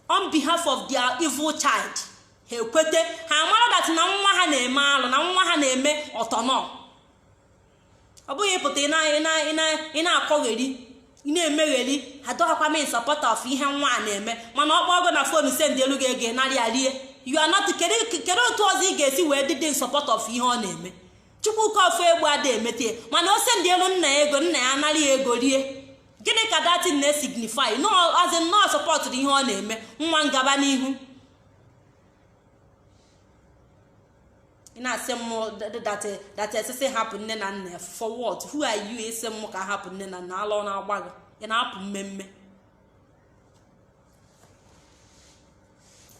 on behalf of their evil child ha ekwete ha amara that na nwa ha na-eme alụ na nwa ha na-eme ọtọnọm ọ bụghị ị pụta ị na-akọgheri ị na-emegheri adọghakwa m in support of ihe nwa a na-eme mana ọ kpọọ gị na phone sendielu gị ego narị ya rie you are not kedu otu ọzọ ị ga-esi wee dị dị in support of ihe ọ na-eme chukwuka ofu egbu ada emete mana o sendielu nna ya ego nna ya anarị ya ego rie gịnị ka that thing na-esignify na ọ nọ in support of ihe ọ na-eme nwa m gaba n'ihu ị na-asị m that sị sị hapụ nne na nna for what who are you ị sị m ka hapụ nne na nna ala ọ na-agba gị ị na-apụ mmemme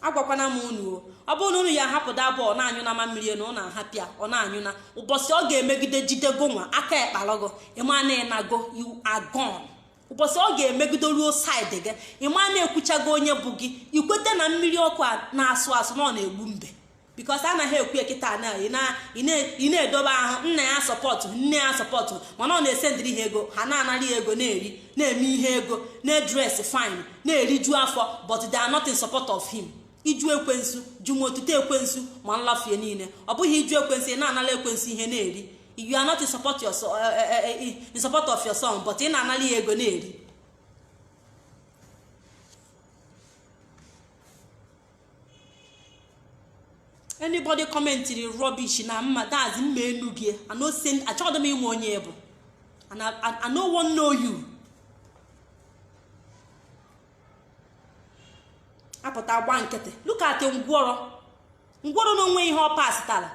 agwakwana m unu o ọ bụrụ na unu ya ahapụ that boy ọ na-anyụ unu mamịrị n'ọnụ a hapụ ya ọ na-anyụ unu ụbọchị ọ ga-emegide jide gị nwa aka ekpalọgo ị ma na ị nago you are gone ụbọchị ọ ga-emegido ruo side gị ị ma na ekwuchago onye bụ gị i kweta na mmiri ọkụ a na-asụ asụ na ọ na-egbu mbe because anaghị ekwu kịta na ị na-edobe ahụ nna ya support nne ya support mana ọ na-esendịrị ha ego ha na-anara ya ego na-eri na-eme ihe ego na-edress fine na-eriju afọ but they are not in support of him ịjụ ekwensu jụ ma otuto ekwensu ma nlafu ya niile ọ bụghị ịjụ ekwensu ị na-anara ekwensu ihe na-eri you are not in support, your, uh, uh, uh, in support of your son but ị na-anara ya ego na-eri anybody commentịrị rubbish na mma that's mma enu gị achọghị m ịma onye ị bụ and I, I, I no wan know you apụta gba nkịtị look at ngwọrọ ngwọrọ na onweghị ihe ọ pasịtara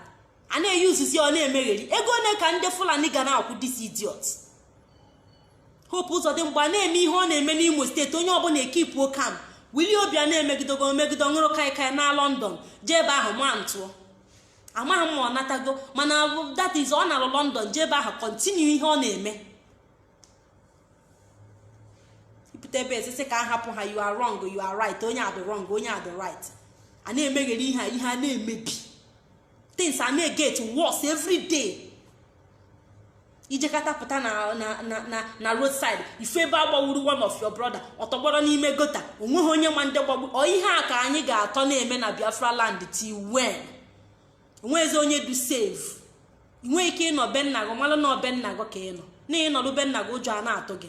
a na-eyi uzuzi ọ na-emegheri ego ole ka ndị fulani ga na-akwụ this idiot hope ụzọdịmgba na-eme ihe ọ na-eme n'imo steeti onye ọbụla ekeepuo calm willie obiano emegidogo emegido ṅụrụ kaikai na london jee ebe ahụ ma ntụọ amaghị m ma ọ natago mana that is ọ nalụ london jee ebe ahụ continue ihe ọ na-eme ị pụta ebe a sị sị ka a hapụ ha you are wrong you are right onye a dị wrong onye a dị right a na-emegheri ihe a ihe a na-emebi things a na-eget worse every day i jekata pụta na na na na na road side ị fụ ebe a gbagburu one of your brother ọtọgbọrọ n'ime gutter onweghị onye ma ndị gbagburu ọ ihe a ka anyị ga-atọ na-eme na biafra land till when o nwezi onye dụ safe i nwee ike ịnọ be nna gị malụ na ọ be nna gị ka ị nọ na ị nọlụ be nna gị ụjọ a na-atụ gị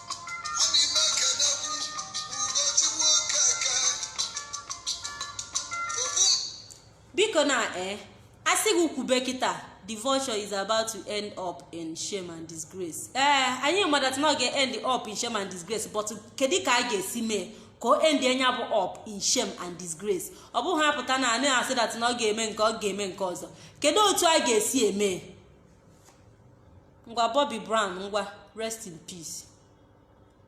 biko na eh asị gị kwube kịta the vulture is about to end up in shame and disgrace ee eh, anyị ma that na ọ ga-end up in shame and disgrace but kedu ka a ga-esi mee ka o end nya bụ up in shame and disgrace ọ bụghị apụta na a na-asị that na ọ ga-eme nke ọ ga-eme nke ọzọ kedu otu a ga-esi eme ngwa Bobby Brown ngwa rest in peace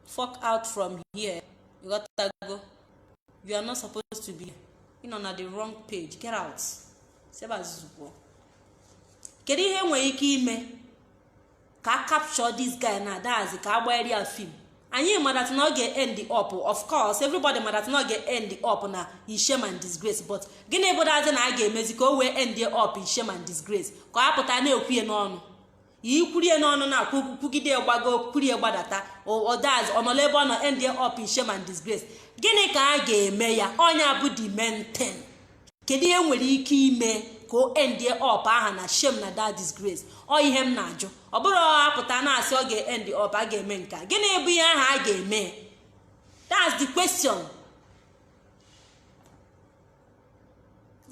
fuck out from here ị ghọtago you are not supposed to be ị nọ na the wrong page get out si ebe a zuzupụọ kedu ihe e nwere ike ime ka a capture this guy na adazi ka agbagharị ya film anyị ma that na ọ ga-end up of course everybody ma that na ọ ga-end up na shame and disgrace but gịnị bụ dazi na a ga-emezi ka o wee endie up in shame and disgrace ka a pụta na-ekwu ya n'ọnụ i kwurie n'ọnụ na-ekwugide gbago kwurie gbadata odaz ọ nọla ebe ọ nọ endie up in shame and disgrace gịnị ka a ga-eme ya ọ nya bụ the main thing kedu ihe e nwere ike ime ka o endie up aha na shame and disgrace ọ ihe m na-ajụ ọ bụrọ a pụta na-asị ọ ga-end up a ga-eme nke a gịnị bụ ihe aha a ga-eme that's the question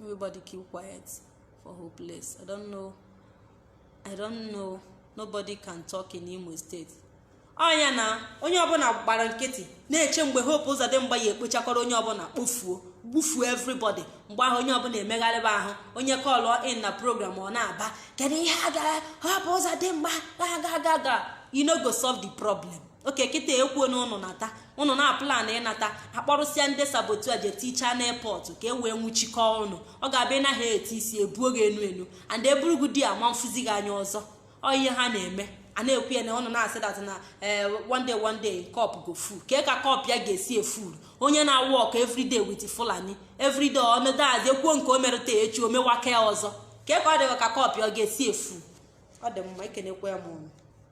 everybody keep quiet for hopeless i don't know I don't know nobody can talk in Imo State ọ nya na onye ọbụla gbara nkịtị na-eche mgbe hope ụzọdịmgba ga-ekpochakọrọ onye ọbụla kpofuo gbufuo everybody mgbe ahụ onye ọbụla emegharịba ahụ onye kọlụ in na program ọ na-aba kedu ihe a gara hope ụzọdịmgba ga aga ga you no go solve the problem okay kịta e kwuo na ụnụ nata ụnụ na-plan ịnata a kpọrọsịa ndị saboteur a je tichaa n'airport ka e wee nwụchikọọ ụnụ ọ ga-abịa ịnaghị eti isi ebuo gị enu enu and e buru gị there a ma afụzi gị anya ọzọ ọ ihe ha na-eme a na-ekwu ya na ụnụ na-asị that na eh, one day one day cup go full kee ka cup a ga-esi e-full onye na-work everyday with fulani everyday ọnọdụ azi e kwuo nke o merụ taa echi o mewakwa ya ọzọ kee ka ọ dị ka cup a ga-esi e-full ọ dị mma ekenekwaa m ụnụ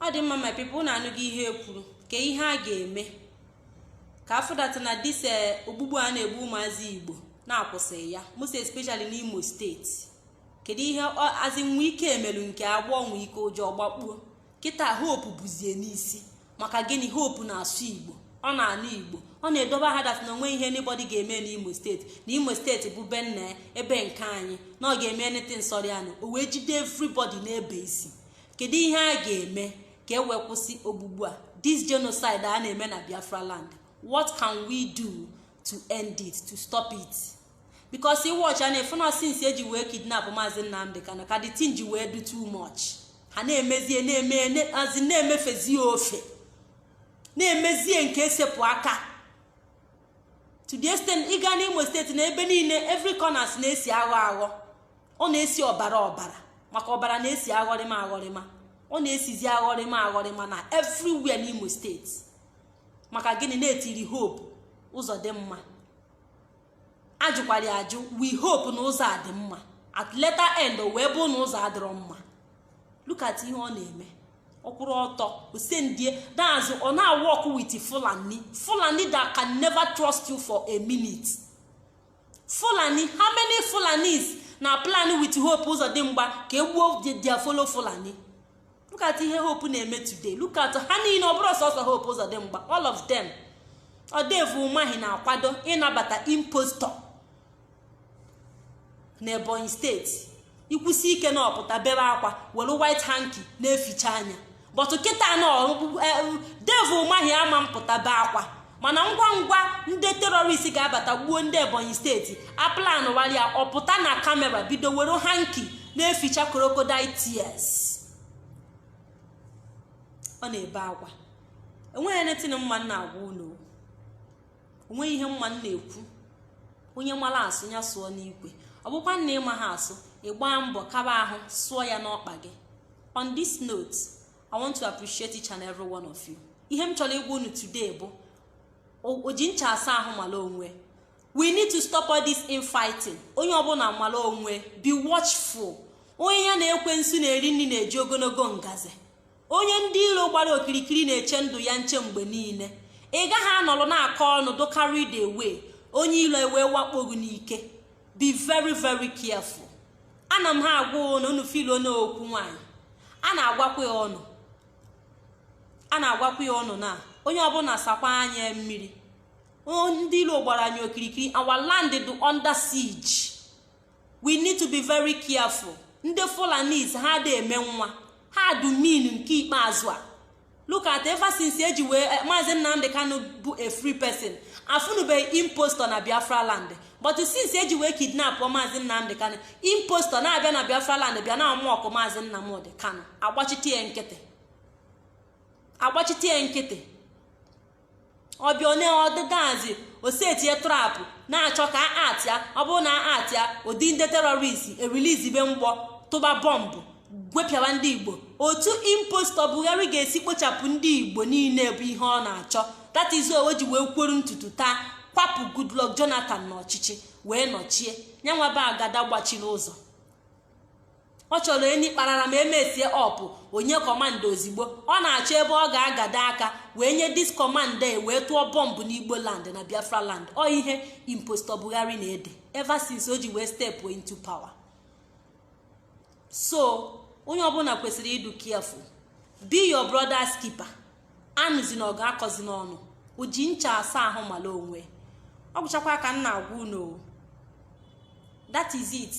ọ dị mma my people ụnụ anụgo ihe e kwuru kee ihe a ga-eme ka a fụ that na this eh, ogbugbu a na-egbu ụmụazị igbo na a kwụsịrị ya most especially n'imo steeti kedu ihe azị nwe ike emelu nke a bụ nwike ụjọ ọ gbakpuo kịta hope bụzie n'isi maka gịnị hope na-asụ igbo ọ na-anụ igbo ọ na-edobe ha that na o nwe ihe anybody ga-eme n'imo steeti na imo steeti bụ be nna ya ebe nke anyị na ọ ga-eme anything sọrọ ya na o wee jide everybody n'ebe isi kedu ihe a ga-eme ka e wee kwụsị ogbugbu a this genocide a na-eme na biafra land what can we do to end it to stop it because ị watch ya na-afụ na since e ji wee kidnap maazị nnamdị kanu ka the thing ji wee do too much ha na-emezie na-emeazi na-emefezie ofe na-emezie nke esepụ aka to the extent ị gaa n'imo steeti na ebe niile every corners na-esi aghọ aghọ ọ na-esi ọbara ọbara maka ọbara na-esi aghọrịma aghọrịma ọ na-esizi aghọrịma aghọrịma na everywhere n'imo steeti maka gịnị na-etiri hope Uzodinma ajụkwara ya ajụ we hope na ụzọ a dị mma at later end o wee bụ na ụzọ adịrọ mma look at ihe ọ na-eme ọ kwụrụ ọtọ osendie daazụ ọ na-awork with fulani fulani that can never trust you for a minute. fulani how many fulanis na-aplan with hope Ụzọdịmgba ka e gbuo their fellow fulani look at ihe hope na-eme today look at ha niile ọ bụrọ sọsọ hope Ụzọdịmgba all of them ọ devil umahi na-akwado ịnabata impostor na ebonyi steeti ikwusi ike na ọ pụta bebe akwa were white hanky na-eficha anya but kịta na devil umahi ama mpụta bee akwa mana ngwa ngwa ndị terrorist ga-abata gbuo ndị ebonyi steeti aplan waria ọ pụta na camera bido were hanky na-eficha crocodile tears ọ na-ebe akwa enweghị netin mma na-agwa unu onweghị ihe mma m na-ekwu onye mara asụ ya sụọ n'ikwe ọ bụkwa na ị maha asụ ị gbaa mbọ kaba ahụ sụọ ya n'ọkpa gị on this note i want to appreciate each and every one of you ihe m chọrọ ịgwa unu today bụ oji ncha asa ahụ mara onwe we need to stop all this infighting onye ọbụla mara onwe be watchful onye ya na ekwensu na-eri nri na-eji ogologo ngazi onye ndị iro gbara okirikiri na-eche ndụ ya nche mgbe niile ị gaghị anọrọ na-akọ ọnụ dụ carried away onye ilo ewee wakpo gị n'ike be very very careful ana m ha agwa unu unu feel na okwu nwaanyị a na-agwakwa ya unu a na-agwakwa ya unu na onye ọbụla sakwa anya mmiri ndị ilo gbara anyị okirikiri our land dị under siege we need to be very careful ndị fulanis ha dị eme nwa ha dụ mean nke ikpeazụ a look at ever since eji wee eh, maazị nnamdị kanu bụ a free person afụnụbeghị impostor na biafra land but since eji wee kidnap maazị nnamdị kanu impostor na-abịa na biafra land bịa na-amụ ọkụ maazị nnamdị kanu agbachite ya nkịtị agbachite ya nkịtị ọ bịa onye ọdịgazi o setie trap na-achọ ka atị ya ọ bụrụ na atị ya ụdị ndị terrorist ereleasebe mgbọ tụba bọmbụ gwepịawa ndị igbo otu impostor buhari ga-esi kpochapụ ndị igbo niile bụ ihe ọ na-achọ that is why o ji wee kwuru ntutu taa kwapụ goodluck jonathan n'ọchịchị wee nọchie nya nwa bụ agada gbachiri ụzọ ọ chọrọ enyi kparara ma emesie ọ pụọ nye command ozigbo ọ na-achọ ebe ọ ga-agado aka wee nye this command e wee tụọ bọmbụ n'igbo land na biafra land ọ ihe impostor buhari na-ede ever since o ji wee step into power so onye ọbụla kwesịrị ịdụ careful be your brother's keeper. anụzi na ọ ga-akọzi na unu ji ncha asa ahụ mala onwe ọ gwụchakwa ka m na-agwa unu that is it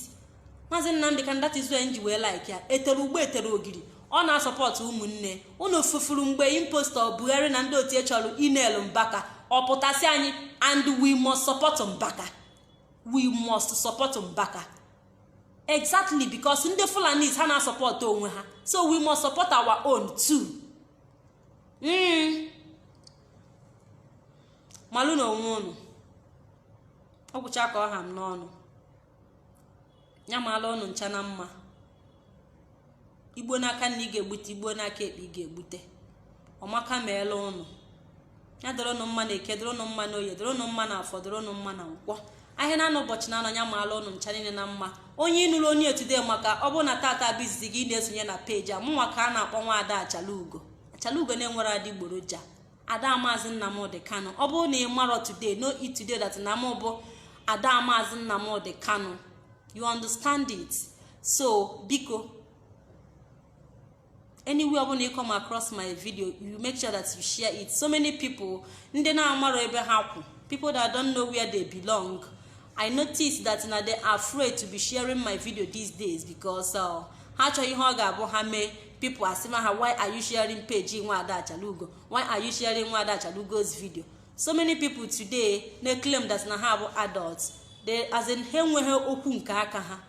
maazị nnamdị kanu that is why m ji wee like ya e tere ụgba e tere ogiri ọ na-asọpọtụ ụmụnne unu fufuru mgbe impostor buhari na ndị otu chọrọ ịnail mbaka ọ pụta sị anyị and we must support mbaka we must support mbaka exactly because ndị fulanis ha na-asọpọtụ onwe ha so we must support our own too mm. malụnụ onwe unu ọ gwụcha ka ọ ha m n'ọnụ ya maala unu ncha na mma i gbuo n'aka nni ị ga-egbute i gbuo n'aka ekpe ị ga-egbute ọ maka maala unu ya dịrị unu mma na eke dịrị unu mma na oye dịrị unu mma na afọ dịrị unu mma na nkwọ ahịa naanọ ụbọchị naanọ ya maala unu ncha niile na mma onye ịnụrụ onye etude maka ọ bụrụ na tata bụ izizi gị ị na-esonye na page a mụnwa ka a na-akpọ nwa ada achalugo achalugo na-enwerọ adịgboroja ada maazị nnamdị kanu ọ bụrụ na ị marọ today know it today that na mụ bụ ada maazị nnamdị kanu you understand it so biko anywhere ọbụla ị come across my video you make sure that you share it so many people ndị na-amarọ ebe ha kwụ people that don't know where they belong i notice that na they are afraid to be sharing my video these days because uh, ha chọrọ ihe ọ ga-abụ ha mee people asị ma ha why are you sharing page nwa ada achalugo why are you sharing nwa ada achalugo's video so many people today na-claim that na ha bụ adults they as in ha enweghị okwu nke aka ha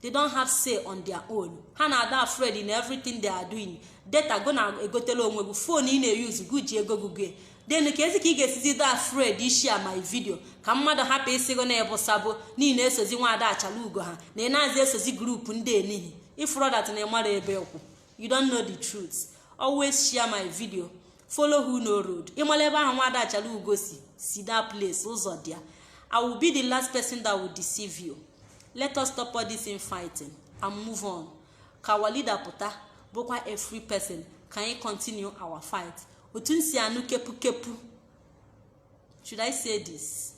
they don't have say on their own ha na-ada afraid in everything they are doing data gị na-egotelụ onwe gị phone ị na-eyuzu gị ji ego gị go then kedụzi ka ị ga-esizi dị afraid ịshare my video ka mmadụ hapụ ịsị gị na ị bụ sabo na ị na-esozi nwaada achala ugo ha na ị na-azị esozi group ndị enihi ị fụrụ that na ị marọ ebe ị kwụ you don't know the truth always share my video follow who know road ị mara ebe ahụ nwada achala ugo si si that place ụzọ dị ya i will be the last person that will deceive you let us stop all this infighting and move on ka our leader pụta bụkwa a free person ka anyị continue our fight otu m si anụ kepu kepu should i say this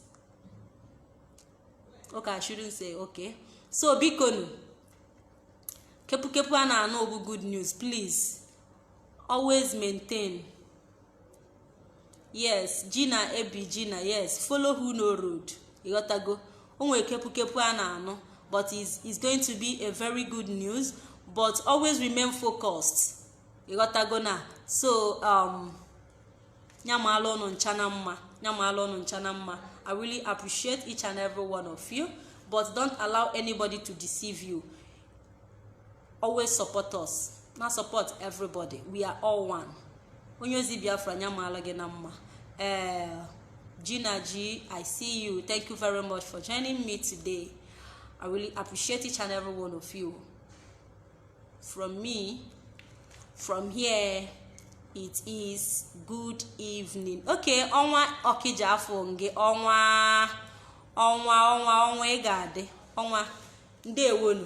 okay i shouldn't say okay so bikonu kepukepu a na-anụ bụ good news please always maintain yes gị na ebe gị na yes follow who know road ị ghọtago o nwere kepukepu a na-anụ but it's going to be a very good news but always remain focused ị ghọtago na so um, nyamala unu ncha na mma nyamala unu ncha na mma i really appreciate each and every one of you but don't allow anybody to deceive you always support us na support everybody we are all one onye ozi biafra nyamala gị na mma ee eh, Gina G, I see you. Thank you very much for joining me today. I really appreciate each and every one of you. from me from here it is good evening okay ọnwa ọkija afọ nge ọnwa ọnwa ọnwa ọnwa ị ga-adị ọnwa ndewonu